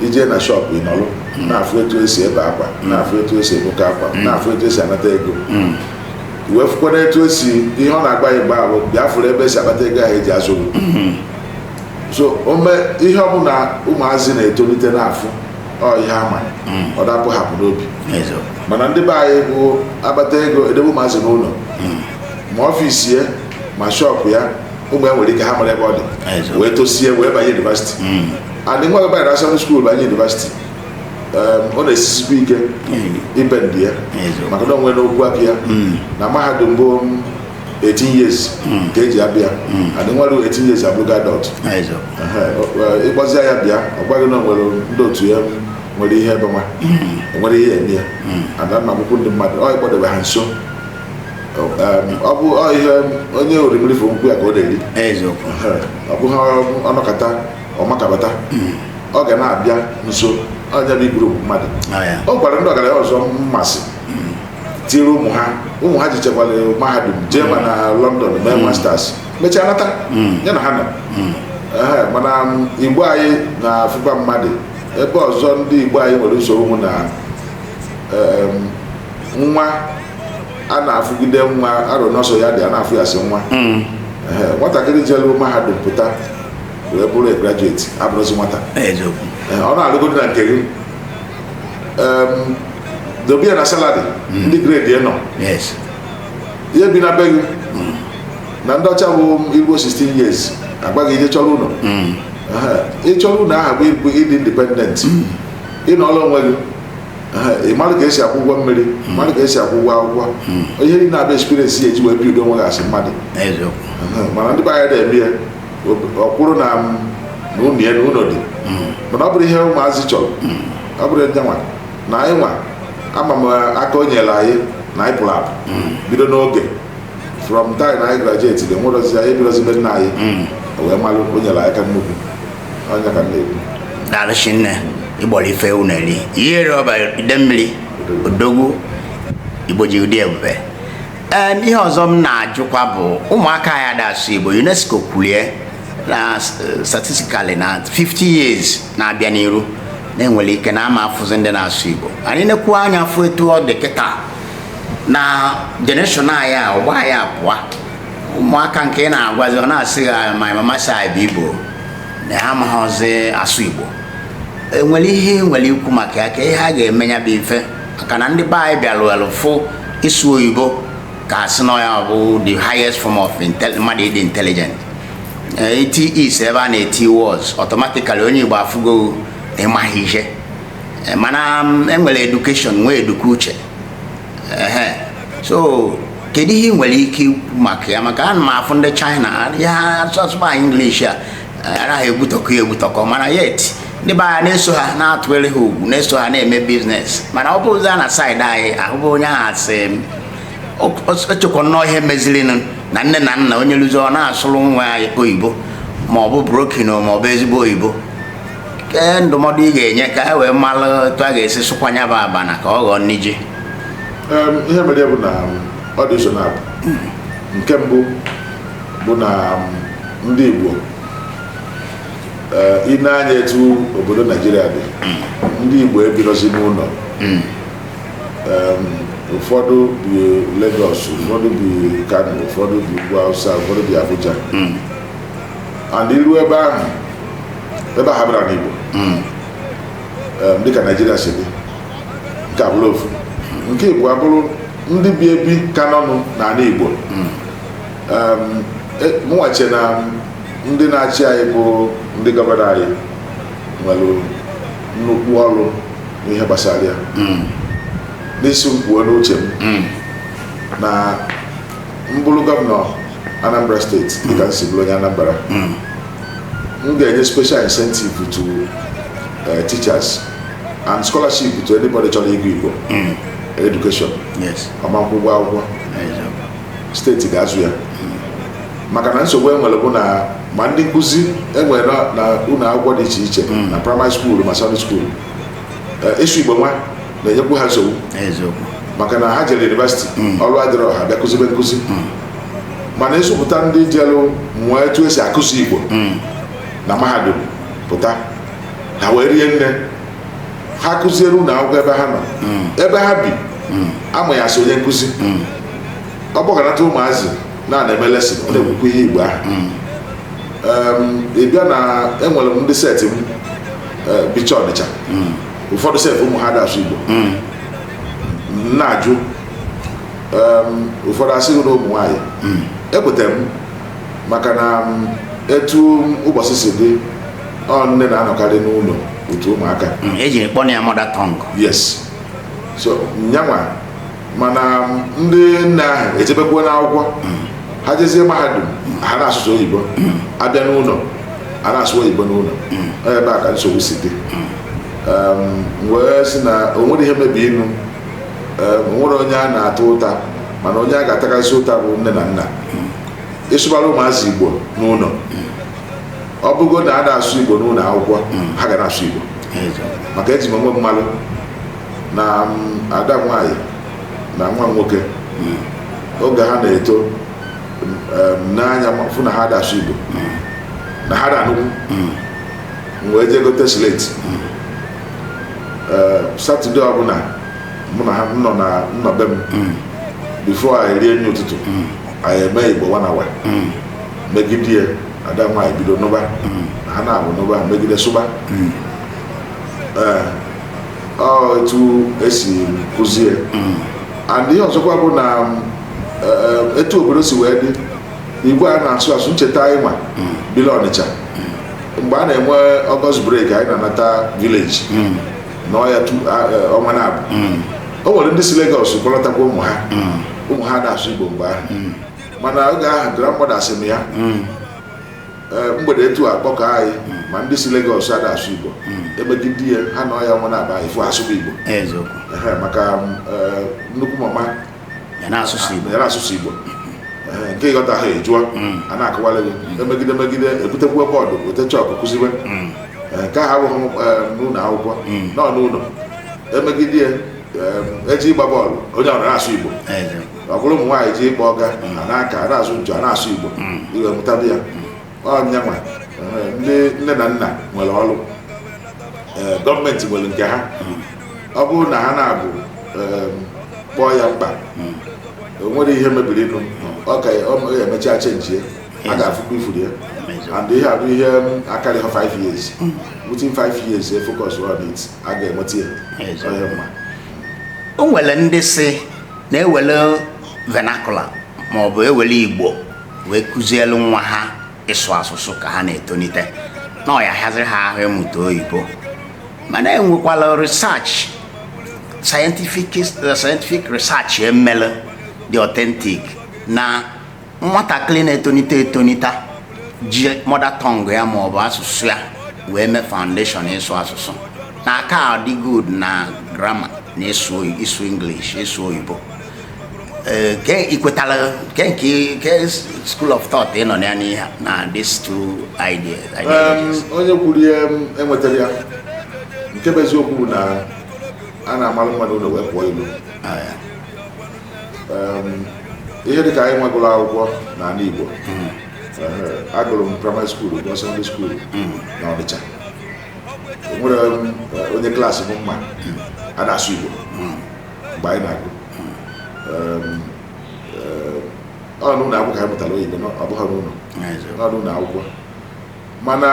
i jee na shop ị nọrọ na-afụ etu esi ebe akwa na-afụ etu esi ebụka akwa na-afụ etu esi anata ego wee fụkwara etu esi ihe ọ na-agba ya mgbe ahụ bịa fụrụ ebe esi akpata ego ahụ eji azụrụ so ome ihe ọbụla ụmụazị na-etolite na-afụ ọ ihe ama ọ dapụ hapụ n'obi mana ndị be anyị bụ akpata ego edebe ụmụazị n'ụlọ ma ọfịs ya ma shọpụ ya ụmụ ya nwere ike ha amarọ ebe ọ dị wee tosie wee banye yunivasiti hmm. and nwa gị banyere secondary school banye yunivasiti ọ na-esisikwa ike ibendi ya maka na onwe n'okwu aka ya hmm. na mahadum bụ 18 years hmm. ka eji abịa hmm. and nwa ruru 18 years abụrụgo adult ị kpọzie ya bịa ọ gwa gị na o nwere ndị otu ya nwere ihe ebe nwa o nwere ihe eme ya ada na akwụkwọ ndị mmadụ ọ ịkpọdebe ha nso ọ bụ ihe onye orimiri fụ nkwụ ya ka ọ na-eri ọ bụghị ọnọkọta ọmakabata hmm. ọ ga na-abịa nso onye bụ iburu mmadụ ọ gwara ndị ọgaranya ọzọ mmasị hmm. tiri ụmụ ha ụmụ ha jechakwara mahadum jee ma na hmm. London mee masters mechaa nata ya na ha nọ mana ndị be anyị na-afụba mmadụ ebe ọzọ ndị be anyị nwere nsogbu na nwa a na-afụgide nwa arụ n'ọsọ ya dị a na-afụ ya sị nwa hmm. nwatakịrị jelu mahadum pụta wee bụrụ graduate abụrụzi nwata ọ na-alụgodi na nke gị dobe ya na salary hmm. ndị gredi nọ ihe bi na be gị hmm. na ndị ọcha i luo 16 years a gwa gị jee chọrọ ụlọ ịchọrọ ụlọ aha bụ ịdị independent ịnọrọ onwe gị ị mara ka esi akwụ ụgwọ mmiri ị mara ka esi akwụ ụgwọ akwụkwọ ihe niile na-abịa experience ya eji wee bido onwe gị as mmadụ eziokwu Ehe, mana ndị be anyị na-eme ya ọ kwụrụ na ụlọ ya na ụlọ dị mana ọ bụrụ ihe ụmụazị chọrọ ọ bụrụ ya nwa na anyị nwa ama m aka o nyere anyị na anyị pụrụ apụ bido n'oge from time na anyị graduated enwerọzi onye bidozi be nna anyị o wee malụ o nyere anyị aka nnukwu daalụ shinne i gbulu ife ewu na-eri iyi eri ọba ide mmiri odogwu igbo ji dị ebube ee ihe ọzọ m na-ajụkwa bụ ụmụaka anyị ada asụ igbo unesco kwulie na eh, statistically na 50 years na-abịa n'iru na enwere ike na ama afụzi ndị na-asụ igbo anyị nekwuo anya fụ etu ọ dị kịta na generation anyị a ọgbọ anyị a pụọ ụmụaka nke ị na-agwazi ọ na-asị my mama say I be igbo na ya amaghịzi asụ igbo enwere ihe ị nwere ikwu maka ya ka ihe a ga-eme ya bụ ife maka na ndị be anyị bịalụ welụ fụ ịsụ oyibo ka asị na ya bụ the highest form of mmadụ ịdị intelligent e tie is ebe a na-eti was automatically onye igbo afụgo ịmaghị ihe eh, mana mm, enwere education nwee eduke uche so kedu ihe ị nwere ike ikwu maka ya maka ana m afụ ndị China ha sụba English a ha na-egbutọkọ ya egbutọkọ mana yet ndị be anyị na-eso ha na-atụgharị ha ugwu na-eso ha na-eme business mana ọ bụrụ na side anyị ahụbụ onye ahụ asị echekwa nnọọ ihe mezirinụ na nne na nna onye lụzi ọ na-asụrụ nwa ya oyibo ma ọ bụ broken o ma ọ bụ ezigbo oyibo ee ndụmọdụ ị ga-enye ka e wee mara etu a ga-esi sụkwanye bụ abana ka ọ ghọọ nri ji ihe mere ya bụ na ọ dị ụzọ naabọ nke mbụ bụ na ndị Igbo ị nee anya etu obodo Naijiria dị ndị Igbo ebirozi n'ụlọ ụfọdụ bi Lagos ụfọdụ bi Kano ụfọdụ bi Ugwu Hausa ụfọdụ bi Abuja and iru ebe ahụ ebe ha bi abụrọ anị Igbo hmm. eh, dịka Naijiria si dị nke a bụrụ ofu nke ịbụọ abụrụ ndị bi ebi ka nọnụ n'ala Igbo hmm. e, mụ nwa chee na ndị na-achị anyị bụ ndị gọvanọ anyị nwere nnukwu ọrụ n'ihe gbasara ya hmm. na ị sị m kwuo n'uche m na m bụrụ gọvanọ Anambra steeti dịka m si bụrụ onye Anambra m ga-enye special incentive to uh, teachers and scholarship to anybody chọrọ ịgụ Igbo mm. education ọ ma-akwụ ụgwọ akwụkwọ steeti ga-azụ ya maka na nsogbu e nwere bụ na ma ndị nkụzi e nwere n'ụlọ akwụkwọ dị iche iche mm. na praịmarị skuulu ma sekọndịrị skuulu eh, ịsụ Igbo nwa na-enyekwu ha nsogbu maka na ha jere yunivesiti mm. ọrụ adịrọ ha bịa kụzibe nkụzi mana ị zụpụta ndị jelụ mụọ etu esi akụzi igbo hmm. na mahadum pụta ha wee rie nne ha kụziere ụlọ akwụkwọ ebe ha nọ hmm. ebe ha bi hmm. a ma ya sọ onye nkụzi ọ kpọkọnata ụmụazị na a na-eme lesin ọ na-ekwukwa ihe igbo ahụ ị bịa na enwere m ndị seti m e, bicha Ọnịcha ụfọdụ seti ụmụ ha da asụ igbo m na-ajụ ụfọdụ asị gị na ụmụ nwaanyị hmm. ekwetara m maka na etu ụbọchị si dị ọ nne na-anọkarị n'ụlọ otu ụmụaka hmm, e jiri kpọọ ya mother tongue yes so nya nwa mana ndị nne ahụ ejebekwa n'akwụkwọ hmm. ha jezie mahadum ha na-asụ sọ oyibo a bịa n'ụlọ a na-asụ oyibo n'ụlọ ọ ebe a ka nsogbu si dị m wee sị na o nwere ihe mebirinụ nwere onye a na-ata ụta mana onye a ga-atakarịsị ụta bụ nne na nna ị sụbara ụmụazị igbo n'ụlọ ọ bụgo na a na-asụ igbo n'ụlọ akwụkwọ ha ga na-asụ igbo maka eji m onwe m malụ na ada nwanyị na nwa nwoke oge ha na-eto m nee anya fụ na ha da asụ igbo na ha da anụkwu m wee jee gote sleti eh, Saturday ọbụla mụ na ha nọ na be m hmm. before anyị rie nri ụtụtụ hmm. anyị eme igbo one hour hmm. megide ya ada nwaanyị bido nụba na ha na-abụ nụba megide sụba eh, ọ etu e si kụzie and ihe ọzọkwa bụ na eh, etu obodo si wee dị igwe a na-asụ asụ ncheta anyị nwa hmm. bili ọnịcha hmm. mgbe a na-enwe August break anyị na-anata village hmm. n'ọya e, ọnwa na-abụ o nwere ndị si Lagos kpọlatakwa ụmụ ha ụmụ ha ada asụ Igbo mgbe ahụ mana oge ahụ grandmother asị m ya e, mgbede etua akpọkọ anyị ma ndị si Lagos ada asụ Igbo emegide ya ha na ọya ọnwa na-abụ anyị fụ asụba Igbo maka e, nnukwu mama ya na asụsụ Igbo ya na asụsụ Igbo Ee, nke ị ghọtaha ị jụọ a na-akọwara gị emegide megide ebutekwuo board weta chalk kụziwe Ee, nke ahụ abụghị m, ee, n'ụlọ akwụkwọ na ọ n'ụlọ emegide ya ee, e jee ịgba ball onye ọbụla na-asụ Igbo Eze. ọ bụrụ ụmụ nwaanyị jee ịkpọ ọga a na-aka a na-azụ nchọ a na-asụ Igbo ị wee mụtadị ya ọ ya nwa ee, ndị nne na nna nwere ọrụ Ee, government nwere nke ha ọ bụrụ na ha na-abụ em, kpọọ ya mkpa o nwere ihe mebirinụ ọ ka ọ ma- ya emechaa chenjie a ga-afụkwa ifuru ya and ihe a bụ ihe akarịha 5 years within 5 years e focus on it a ga-enweta ya Ezi. onye mma o nwere ndị sị na e were vernacular ma ọ bụ e were igbo wee kụzielu nwa ha ịsụ asụsụ ka ha na-etolite na ọ ya-ahịaziri ha ahụ ịmụta oyibo mana enwekwala research scientific uh, scientific research emele dị authentic na nwatakịrị na-etonite etonite ji mother tongue ya maọbụ asụsụ ya wee mee foundation ịsụ asụsụ na-aka adị good na grammar na ịsụ ịsụ english ịsụ oyibo eh, i kwetara ke nke ke school of thought ị nọ na ya n'ihe na these two ideas onye kwuru ihe enwetarọ ya nke bụ eziokwu bụ na a na-amalụ mma n'ụlọ wee pụọ ilo ah, ihe dịka anyị nwa gụrụ akwụkwọ n'ala Igbo hmm. eh, agụrụ m primary school gụọ secondary school hmm. na Ọnịcha enwere onye class m mma hmm. a na-asụ Igbo mgbe anyị na-agụ ọ n'ụlọ akwụkwọ ka anyị mụtara oyibo na ọ bụghị n'ụlọ ọ n'ụlọ akwụkwọ mana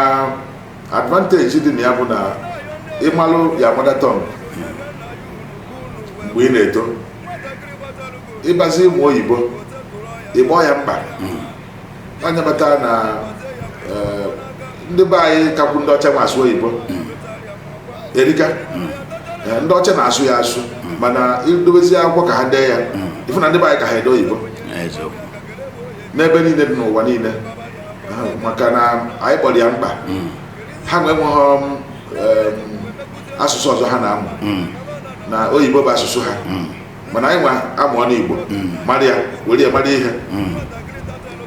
advantage dị na ya bụ na ị malụ your mother tongue mgbe ị na-eto ị bịazie ịmụ oyibo ị kpọ ya mkpa ị ya-amata na eh, ndị be anyị kakwu ndị ọcha ma asụ oyibo erika Eh, ndị ọcha na-asụ ya asụ mana i dobezie akwụkwọ ka ha dee ya ị fụ na ndị be anyị ka ha ede oyibo eziokwu n'ebe niile dị n'ụwa niile Ah, maka na anyị kpọrọ ya mkpa ha nwa enweghị um, em, asụsụ ọzọ ha na-amụ na oyibo bụ asụsụ ha mana anyị nwa amụọ n'igbo mara ya were ya mara ihe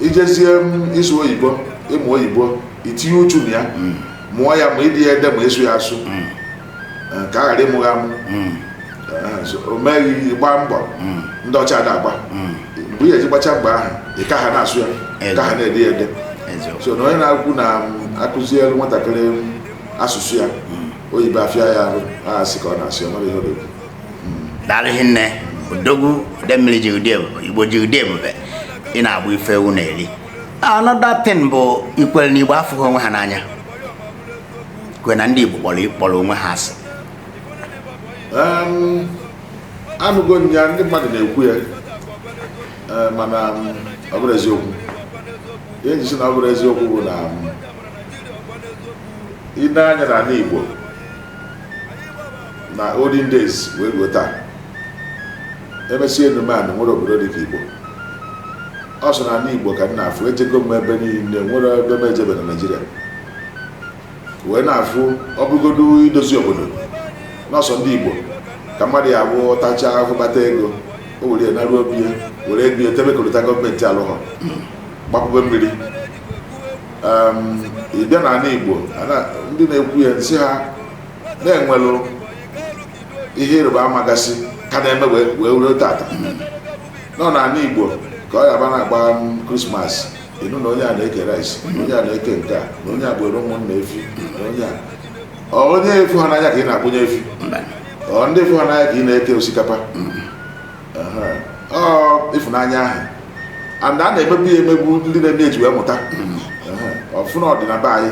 i jezie ịsụ oyibo ịmụ oyibo i tinye uchu na ya mụọ ya ma ide ya ede ma ịsụ ya asụ mm. eh, ka a ghara ịmụ gị amụ mm. eh, o mee ị gbaa mbọ mm. ndị ọcha na-agba mgbe ihe eji gbacha mgbe ahụ ọ ka ha na-asụ ya ka ha na-ede ya ede so na onye na-ekwu na a kụzielu nwatakịrị asụsụ ya oyibo afịa ya arụ asị ka ọ na-asị ya mara ihe odogwu daalụ nne odogwu demiri ji ụdị ebube igbo ji ụdị ebube ị na-egbu ife ewu na-eri another thing bụ i kwere na Igbo afụghị onwe ha n'anya kwe na ndị Igbo kpọrọ kpọrọ onwe ha asị anụgo m ya ndị mmadụ na-ekwu ya eh, mana ọ bụrọ eziokwu ihe m ji sị na ọ bụrọ eziokwu bụ na i lee anya na ala Igbo na olden days wee ruo taa emesi enume anụ nwere obodo dị ka Igbo ọ sọ n'ala Igbo ka m na-afụ ejego m ebe niile nwerọ ebe m ejebe na Naịjirịa wee na-afụ ọ bụgodu idozi obodo na ọ sọ ndị Igbo ka mmadụ ya-abụ tachaa ahụhụ kpata ego o were ya naruo obi ya were ego ya tebe kolota gọọmenti alụghọ gbapụbe mmiri Em, ị bịa n'ala Igbo ana- ndị na-ekwu ya m sị ha na e nwelụ ihe ịrịba ama gasị ka na-eme wee wee ruo tata na ọ n'ala Igbo ka ọ ya-abụ a na-agba krismas ị nụ na onye a na-eke rice na onye a na-eke nke a na onye a gbuuru ụmụnna efi na onye a Ọ onye ị fụghị n'anya ka ị na-akpụnye efi mba ọ ndị ị fụghị n'anya ka ị na-eke osikapa Aha. ọ ịfụnanya ahụ and a na-emebu ya emebu ndị na-eme ya ji wee mụta Aha. ị fụ na ọ dị na be anyị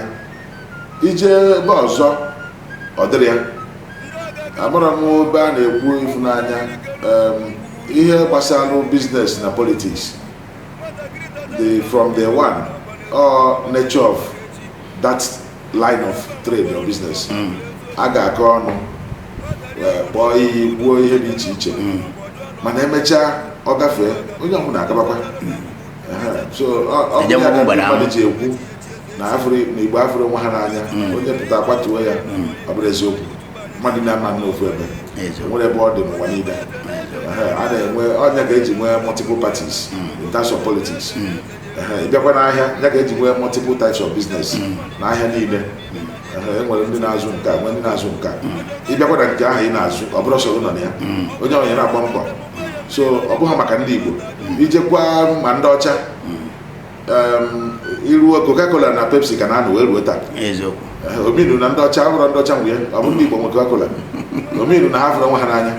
i jee ebe ọzọ ọ dịrọ ya amara m na ebe a na-ekwu ịfụnanya em, ihe gbasara biznes na politiks the from the one or nature of that line of trade or business a ga-akọ ọnụ wee kpọọ iyi kwuo ihe dị iche iche mana e mechaa ọ gafee onye ọbụla agabakwa Ehe, so ọ- ọ bụ Eje ya ka mgbada ndị mmadụ ahụ. ji ekwu na afụrụ na igbo afụrọ onwe ha n'anya onye pụta a kwatuo ya ọ bụrọ eziokwu mmadụ na-ama n'ofu ebe Eziokwu. o nwerọ ebe ọ dị n'ụwa niile Ehe, a na-enwe ọ nya ka e ji nwee multiple parties in terms of politics Ehe, ị bịakwa n'ahịa ya ka e ji nwee multiple types of business n'ahịa niile Ehe, e nwere ndị na-azụ nke a nwee ndị na-azụ nke a ị bịakwa na nke ahụ ị na-azụ ọ bụrọ sọ gị nọ na ya onye ọbụna na-agba mbọ so ọ bụghị maka ndị igbo i jekwa ma ndị ọcha i ruo Coca-Cola na Pepsi ka na-anụ wee ruo taa ọ mean na ndị ọcha bụrụ ndị ọcha mgbe ọ bụ ndị Igbo nwe Coca-Cola ọ mean na ha afụrọ onwe ha n'anya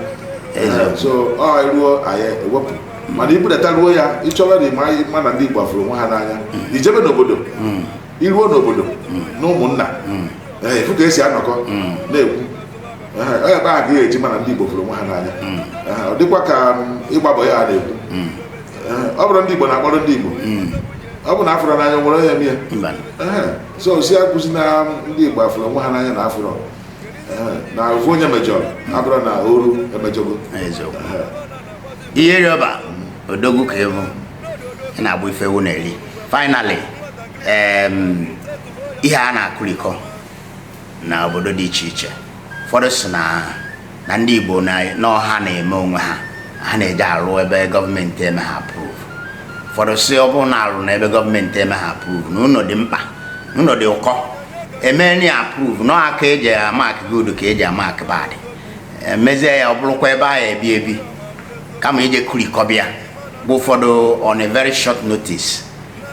so ọ ruo anyị ewepụ mana i budata ruo ya ị chọrọ na ịma ma na ndị Igbo fụrụ onwe ha n'anya mm. i jebe n'obodo mm. i ruo n'obodo mm. n'ụmụnna ị fụ ka e si anọkọ na-ekwu onye ebe a ga-eji ma na ndị Igbo fụrụ onwe ha n'anya ọ dịkwa ka ịgba mbọ ya a na-ekwu ọ bụrụ ndị Igbo na-akpọrọ ndị Igbo hmm. ọ bụ na afụrụ n'anya nwere onye mie so si akụzi na ndị Igbo afụrọ onwe ha n'anya na a fụrụ na ofu onye mejọrọ abụrọ na ọra emejọgo ihe rịọba odogwu ka ịbụ ị na-abụ ife ewu na-eri finally ihe a na-akụrikọ na obodo dị iche iche ụfọdụ si na na ndị Igbo na ọ ha na-eme onwe ha ha na-eje arụ ebe gọọmenti emeha approve ụfọdụ si ọ bụrụ na arụ na ebe gọọmenti emeha approve na ụlọ dị mkpa na ụlọ dị ụkọ e menụ ya approve na ọ aka e ji amark good ka e ji amark bad e mezie ya ọ bụrụkwa ebe a ya-ebi ebi kama ije kụrikọba ya bụ ụfọdụ on a very short notice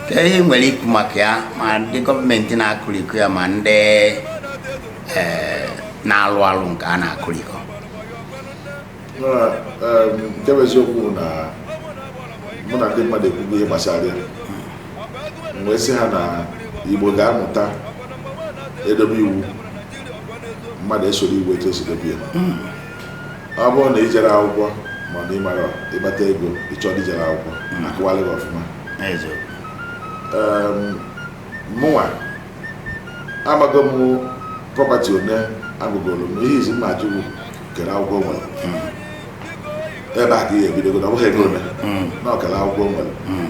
kee ihe i nwere ikwu maka ya ma ndị gọọmenti na-akụrikọ ya ma ndị eh, na-alụ alụ nke a na-akụrikọ nke bụ eziokwu na mụ na ndị mmadụ ekwugo ihe gbasara ya m wee sị ha na igbo ga-amụta e dobe iwu mmadụ esoro iwu etu e si dobe ya ọ bụrụ na i jerọ akwụkwọ mana ị mara ịkpata ego ị chọọ ndị jere akwụkwọ akọwalụ gị ọfụma mụnwa amago m property one agụgoro m ihe izizi m na-ajụ bụ kedụ akwụkwọ o nwere hmm. ebe a ka ihe ebidogo na ọ bụghị ego ole hmm. na ọ kedụ akwụkwọ o nwere hmm.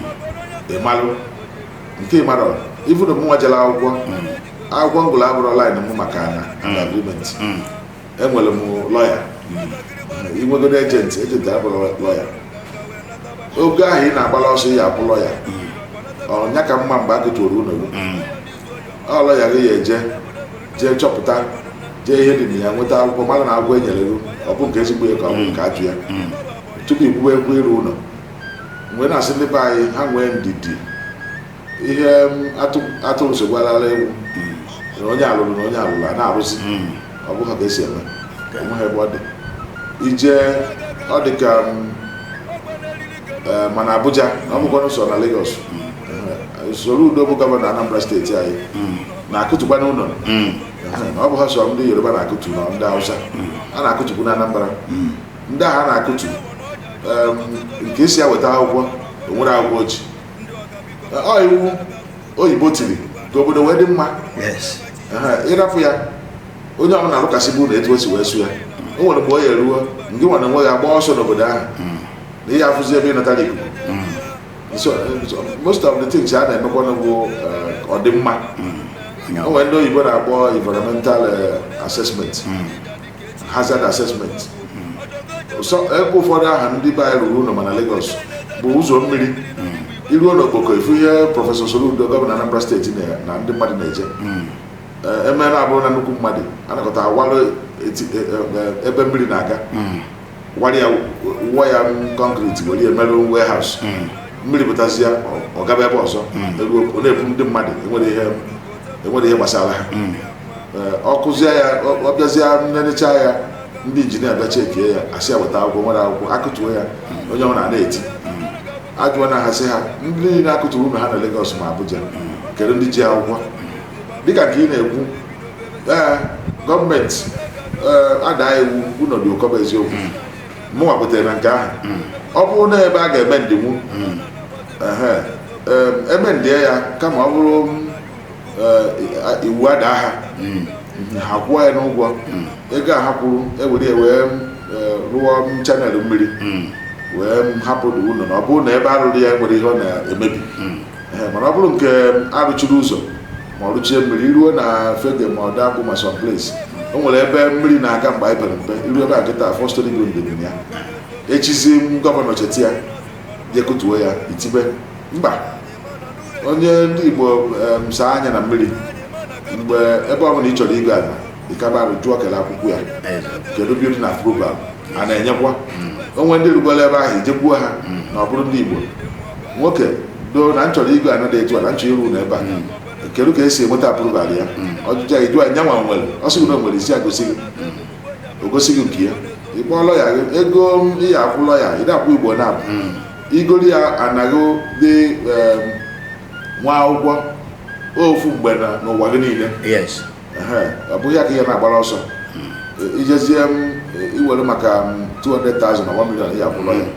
ị malụ nke ị mara ị fụrụ mụnwa jere akwụkwọ akwụkwọ m gụlụ abụrọ line m maka ana na agreement enwere m lọya i nwegodu agent agent abụrọ lọya ego ahụ ị na-agbara ọsọ ị ya-akwụ lọya ọ nya ka mma mgbe a kụtụrụ ụlọ gị ọ lọya gị ya-eje jee chọpụta jee ihe dị na ya nweta akwụkwọ malụ na akwụkwọ e nyere gị ọ bụ nke ezigbo ya ka ọ bụ nke ajọ ya tupu i kwuwe okwu ịrụ ụlọ m wee na-asị ndị be anyị ha nwee ndidi ihe atụrụ sogwarala ewu na onye alụrụ na onye alụrụ a na-arụzi ọ bụghị ka esi eme enweghị ebe ọ dị i jee ọ dị ka ma na Abuja na ọ bụkwanụ sọ na Lagos Soludo bụ gọvanọ Anambra steeti anyị na-akụtukwanụ ụlọ ọ bụghị sọ ndị Yoruba na-akụtu na ndị Hausa a na-akụtukwu na Anambra ndị ahụ a na-akụtu nke asị ha weta akwụkwọ o nwere akwụkwọ o ji ọ iwu oyibo tiri ka obodo wee dị mma ị rapụ ya onye ọbụla arụkasịba ụlọ etu o si wee sọ ya o nwere mgbe ọ ya-eruo nke nwere onwe ya gbaa ọsọ n'obodo ahụ hmm. na ị ya-afụzi ebe ị natara ikuku hmm. eh, most of the things a na-emekwa na bụ eh, ọdịmma hmm. o nwere ndị oyibo na-akpọ environmental eh, assessment hazard assessment so ebe ụfọdụ ahụ ndị be anyị rụrụ ụlọ ma na Lagos bụ ụzọ mmiri i ruo n'Okpoko ị fụ ihe prọfesọ Soludo gọvanọ Anambra steeti na- na ndị mmadụ na-eje Ee, emela abụrụ na nnukwu mmadụ anakọta awalụ eti- e- e- ebe mmiri na-aga wara ya wụọ ya kọnkriti were ya mere warehouse mmiri pụtazia ọ- ọ gaba ebe ọzọ eruo ọ na-ebu ndị mmadụ enwerọ ihe enwerọ ihe gbasara ha Ee, ọ kụzie ya ọ- ọ bịazie nenechaa ya ndị injinia bịa chekie ya asị ya weta akwụkwọ o nwerọ akwụkwọ akụtuo ya onye ọbụla a na-eti ajụọla ha sị ha ndị niile akụturu ụlọ ha na Lagos ma Abuja kedu ndị ji akwụkwọ dịka nke ị na-ekwu ee gọọmenti ee, adaa iwu ụlọ dị ụkọ bụ eziokwu mụ nwa kwetara na nke ahụ ọ bụrụ na ebe a ga-emendinwu ehe, em, emendie ya kama ọ bụrụ m, eh, i- iwu adaa ha ha kwụọ ya n'ụgwọ ego a ha kwuru ewere ya wee m, eh, rụọ m channel mmiri wee m hapụ ụlọ na ọ bụrụ na ebe a rụrụ ya enwerọ ihe ọ na-emebi mana ọ bụrụ nke arụchiri ụzọ ma ọ rụchie mmiri i ruo na Fegge ma Odoakpu ma some place o nwere ebe mmiri na-aga mgbe anyị pere mpe i ruo ebe ahụ kịta four storey building dị na ya echizi gọvanọ cheta ya jee kụtuo ya i tibe mba onye ndị Igbo em, saa anya na mmiri mgbe ebe ọbụla ị chọrọ ịgo ala Ikabari jụọ kele akwụkwọ ya kedu building approval a na-enyekwa o nwee ndị rụgoro ebe ahụ i jekwuo ha na ọ bụrụ ndị Igbo nwoke doo na m chọrọ ịrụ ụlọ dị etu a na m chọọ ịrụ na ebe a kedu ka esi enweta approval ya ọjụjụ anyị jụọ anya nwa nwere ọ sị gị na o nwere ị sị ya gosi gị o gosi gị nke ya ị kpọọ lọya gị ego ị ya-akwụ lọya ịda akwụ Igbo na-abụ i gori ya anaghị dị em, nwa akwụkwọ ofu mgbe na n'ụwa gị niile yes ọ bụghị ya ka ị na-agbara ọsọ hmm. ijezie m iwere maka 200,000 na 1 million ya-akwụ lawyer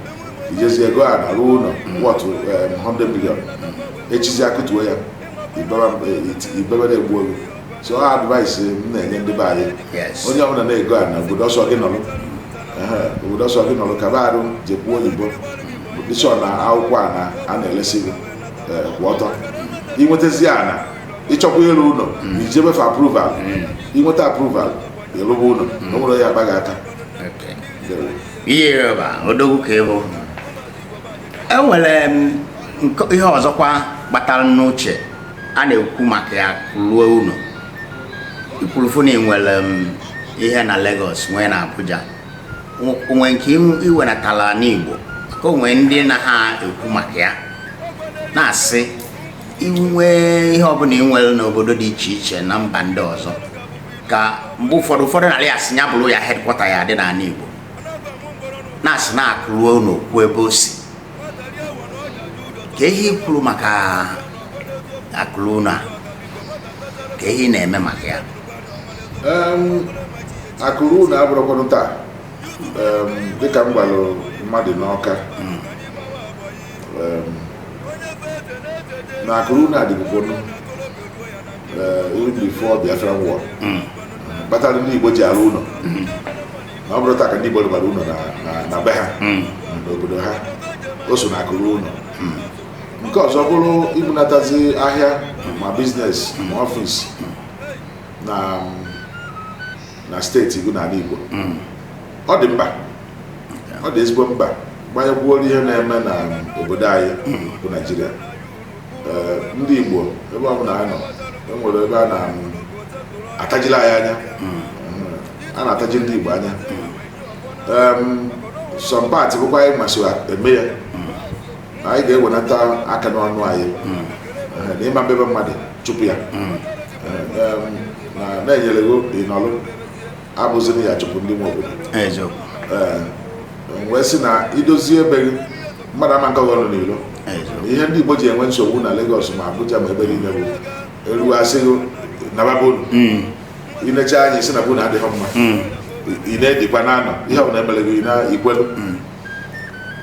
i jezie ego ana rụọ ụlọ worth 100 million echizi a kụtuo ya i bebe na-egbu oge so advice m na-enye ndị be anyị onye ọbụla na-ego ana obodo ọ sọ gị nọrọ obodo ọ sọ gị nọrọ kaba arụ jekwuo oyibo be sure na akwụkwọ ana a na-elesi gị eh, kwụ ọtọ i nwetazi ana ị chọkwa ịrụ ụlọ hmm. i jebe for approval i nweta hmm. approval ị rụba ụlọ hmm. o nwere ya agbaghị aka ihe rịọba odogwu ka ị bụ e nwere ihe ọzọkwa gbatara n'uche a na-ekwu maka ya ruo ụlọ i kwuru fụ na ị nwere ihe na Lagos nwee na Abuja o nwe nke i wenatala n'Igbo ka o nwe ndị na ha ekwu maka ya na-asị i nwee ihe ọbụla ị nwere n'obodo dị iche iche na mba ndị ọzọ ka mgbe ụfọdụ ụfọdụ na-arị asị ya bụrụ ya headquarter ya dị n'ala Igbo na-asị na akụ ruo ụnọ o kwuo ebe o si ka ihe kwuru maka akụ ruo ụnọ ka ihe na-eme maka ya akụ ruo ụnọ abụrọkwanụ taa dịka m gwara mmadụ n'Ọka hmm. na akụ ruo ụnọ adịbugonụ eri before Biafra war kpatara ndị igbo ji arụ ụlọ na ọ bụrọ taa ka ndị igbo rụbara ụlọ na- na- na be ha n'obodo ha o so na akụ ruo ụlọ nke ọzọ bụrụ ibunatazi ahịa ma business ma ọfis na na steeti gị n'ala igbo ọ dị mkpa ọ dị ezigbo mkpa gbanyekwuoro ihe na-eme na obodo anyị bụ naijiria Ee, ndị igbo ebe ọ bụla anyị nọ e nwere ebe a na-atajila anyị anya a na-ataji ndị igbo anya Em, some part bụkwa anyị nwa so eme ya anyị ga-ewenata aka n'ọnụ anyị Ee, na ị ma ebi be mmadụ chụpụ ya Ee, em, na- na e nyere gị ị nọlụ abụzirọ ya chụpụ ndị nwe obodo ee wee sị na i dozie be gị mmadụ ama akọ gị ọnụ n'ilo ihe ndị Igbo ji enwe nsogbu na Lagos ma Abuja ma ebe niile bụ e ruo a sị gị naba be unu hmm. i nechaa anya sị na be unu adịghị mma hmm. ị na-edikwa na anọ ihe ọbụla e mere gị na ikwelu hmm.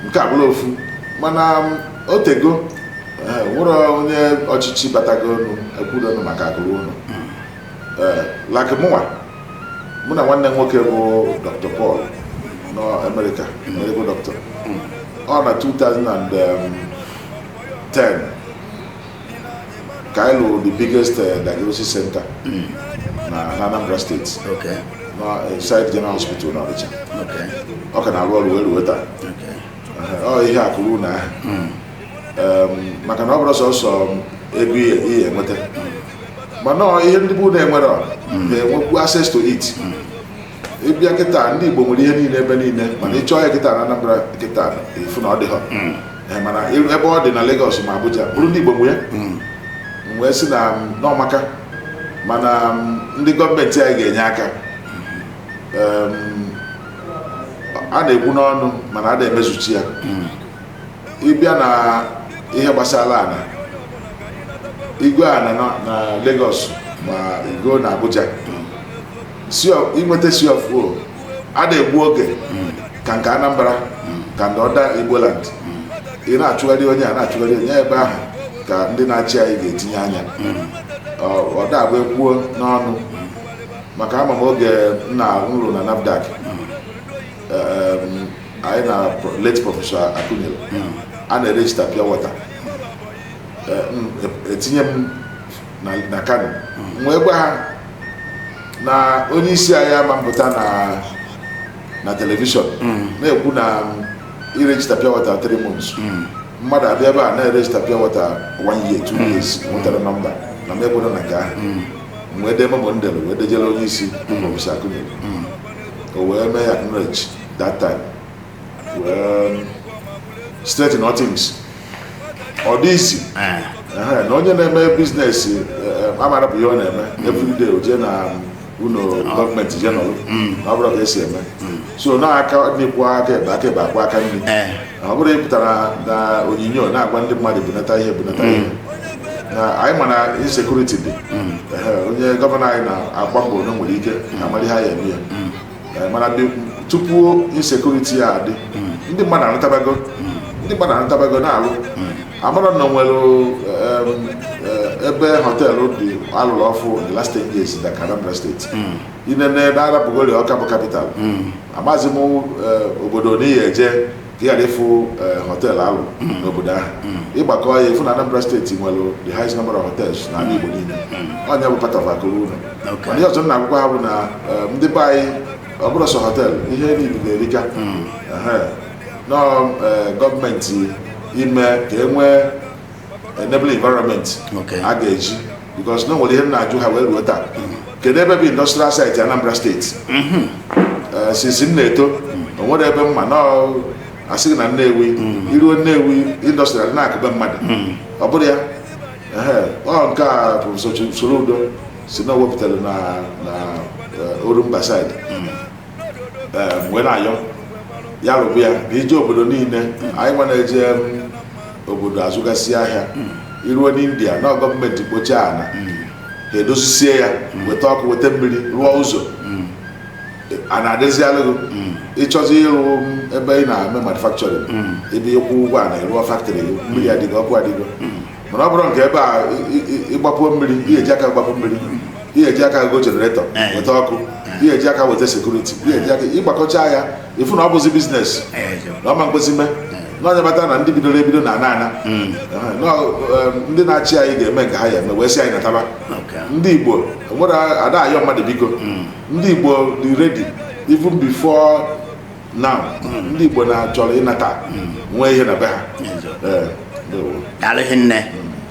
nke a bụlụ ofu mana um, o tego eh, nwere onye ọchịchị batagonụ ekwurọnụ maka akụ ruo ụlọ eh, like mụwa mụ na nwanne m nwoke bụ dr paul nọ amerịka medical doctor ọ na 2010 ka anyị lụrụ the biggest eh, diagnosis center na na anambra steeti Okay. na eh, site general hospital na ọnịcha Okay. ọ ka na-arụ ọrụ wee ruo taa Okay. Ehe, ọ ihe a kwuru na ahụ maka na ọ bụrọ sọsọ ego ị ya-enweta mana ihe ndị bụ na-enwere na-enwekwu access to it ịbịa kịta ndị Igbo nwere ihe niile ebe niile mana ịchọọ ya kịta na Anambra kịta ịfụ na ọ dịhọ mana ebe ọ dị na Lagos ma Abuja bụrụ ndị Igbo nwe ya wee sị na na ọ maka mana ndị gọọmenti anyị ga-enye aka a na-ekwu n'ọnụ mana a da-emezuchi ya ịbịa na ihe gbasara ana ịgọọ ana na- na Lagos ma ịgọọ na Abuja C o- inweta C of O a da-egbu oge ka nke Anambra ka ndị other Igboland ị na-achụgharị onye a na-achụgharị onye ebe ahụ ka ndị na-achị anyị ga-etinye anya Ọ- ọ da-abụ e kwuo n'ọnụ maka ama m oge m na-arụ na NAFDAC anyị na late prọfesọ Akunyili a na-erejista pure water e tinye m na kano wee gwa ha na onye isi anyị ama mpụta na na telivishọn na-ekwu na irejista pure water 3 months mmadụ abịa ebe a na-erejista pure water 1 year 2 years enwetarọ nọmba na m ekwerọ na nke ahụ wee dee memo m dere wee dejere onye isi prọfesọ Akunyili o wee mee acknowledge that time wee straighten all things ọ dị easy Eh, Ehe, na onye na-eme biznes amara bụ ihe ọ na-eme everyday o jee na ụlọ gọọmenti je nọrọ na ọ bụrọ ka e si eme so na aka nri kwọọ aka ekpe aka ekpe akwọọ aka nri eh, na ọ bụrọ ịpụta na onyonyo na-agwa ndị mmadụ bunata ihe bunata ihe na anyị ma na insekuriti dị Ehe, onye gọvanọ anyị na-agba mbọ na o nwere ike na amara ihe a ya-eme ya Eh, mana ndị tupu insekuriti a adị ndị mmadụ anatabago ndị mmadụ anatabago na-alụ amara na e nwere em, eh, ebe họteelụ dị alụrụ ọfụ in the last 10 years na Anambra steeti inene na arapụgodi Ọka bụ kapital amazị m eh, obodo n'ị ya-eje ka ị ghara ịfụ eh, họteelụ alụ n'obodo ahụ ịgbakọọ ya ịfụ na Anambra steeti nwere the highest number of hotels na ala Igbo niile onye bụ part of akụ ruo ụlọ Okay. mana ihe ọzọ m na-agwakwa ha bụ na eh, ndị be anyị ọ bụrọ sọ họteelụ ihe niile na-erika Ehe. na ọ eh, gọọmenti ime ka e nwee enable environment a ga-eji because na o nwere ihe m na-ajụ ha wee ruo taa kedu ebe bụ industrial site Anambra steeti mhm. eh, since m na-eto o nwere ebe m ma na asịghị na Nnewi mhm. i ruo Nnewi industrial na-akụbe mmadụ mhm. ọ bụrụ ya ọ nke a bụ Soludo sị na o wepụtara na eh, Orumba side wee na-ayọ ya rụba ya na i je obodo niile anyị nwa na-eje obodo azụgasị ahịa i ruo n'India na gọọmenti kpochie ana ha edozisie ya weta ọkụ weta mmiri rụọ ụzọ ana adịzịalụ gị ị chọzi ịrụ ebe ị na-eme manufacturing ebe ịkwụ ụgwọ ana ị rụọ factory gị mmiri adịgo ọkụ adịgo mana ọ bụrụ nke ebe a ịgbapuo mmiri i ya-eji aka gbapụ mmiri i ya-eji aka go generator eh. weta ọkụ eh. i ya-eji aka weta security i ya-eji aka ị gbakọcha ya ị fụ na ọ bụzi business eh, na ọ ma nkwezi mee n'onye bata na ndị bidoro ebido na-ana ana hmm. ndị na-achị anyị ga-eme nke ha ya-eme wee sị anyị nataba ndị Igbo nwere ada ayọ mmadụ biko hmm. ndị Igbo dị ready even before na ndị Igbo na-achọrọ ịnata nwee ihe na be ha Ee, ndewo. daalụ rinne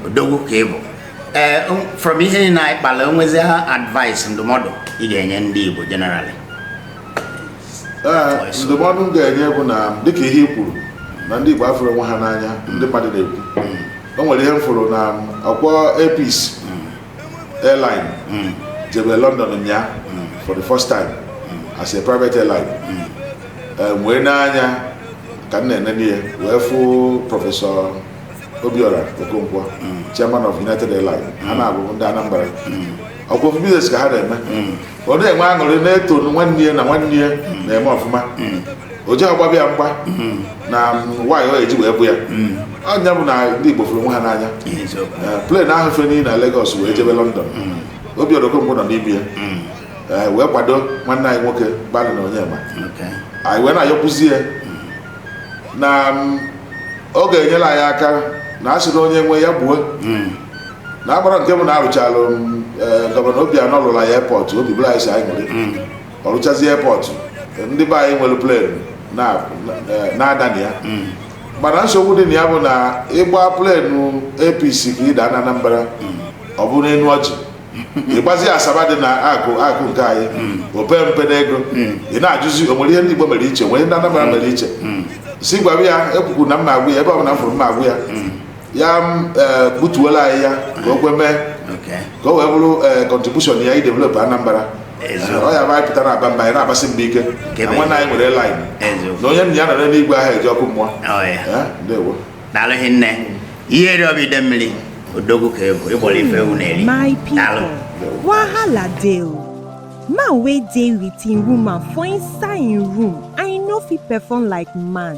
odogwu ka ị bụ ee o- from ihe niile anyị kpara o nwezi advice ndụmọdụ ị ga-enye ndị Igbo generally Ee, ndụmọdụ m ga-enye bụ na dịka ihe i kwuru na ndị Igbo afụrọ onwe ha n'anya ndị mmadụ na-ekwu o nwere ihe m fụrụ na ọ kpọ Air Peace airline mm. jebe London nya mm. for the first time mm. as a private airline um, wee nee anya ka m na-enene ya wee fụ Professor Obiora Okonkwo chairman of United Airlines ha naabọ bụ ndị Anambra ọkwa ofu business ka ha na-eme ọ na-enwe aṅụrị na-eto nwanne ya na nwanne ya na-eme ọfụma o ji agbaba ya mgba na why o ji wee bụ ya ọ nya bụ na ndị Igbo fụrụ onwe ha n'anya Eh, plane ahụ fenie na Lagos wee jebe London Obiora Okonkwo nọ n'ime ya Eh, wee kwado nwanne anyị nwoke bụ Allen Onyema anyị wee na-ayọkwuzi ya na mm, ọ ga-enyere anyị aka na a sịrọ onye nwe ya gbuo na agbara nke bụ na arụchalụ m ee, gọvanọ Obianọ lụrụ anyị airport obi bụrụ anyị sọ aṅụrị ọ rụchazi airport ndị be anyị were plane na- na- na-ada na ya mana nsogbu dị na ya bụ na ị gba plane Air Peace ka ị daa na Anambra ọ bụ n'enu ọjị ị gbazi Asaba dị na akụkụ nke anyị o pe mpe n'ego ị na-ajụzi o nwere ihe ndị Igbo mere iche nwere ndị Anambra mere iche si gwara ya ekwukwu na m na-agwa ya ebe ọ bụla m fụrụ m na-agwa ya ya eh, gbutuola anyị ya ka o kwe mee ka o wee bụrụ contribution eh, ya idevelop Anambra oya anyị pụta na-aba mba anyị na-agbasi mba ike na nwanne anyị nwere line na onye nna ya nọ n'igwe anaghị eje ọkụ mmụọ oh, eh, ndewo daalụ rinne ihe eri ọbụ ide mmiri odogwu ka ị bụ Igbo abụrọ ife ewu na-eri daalụ wahala dey o man wey dey with im woman for inside im room i no fit perform like man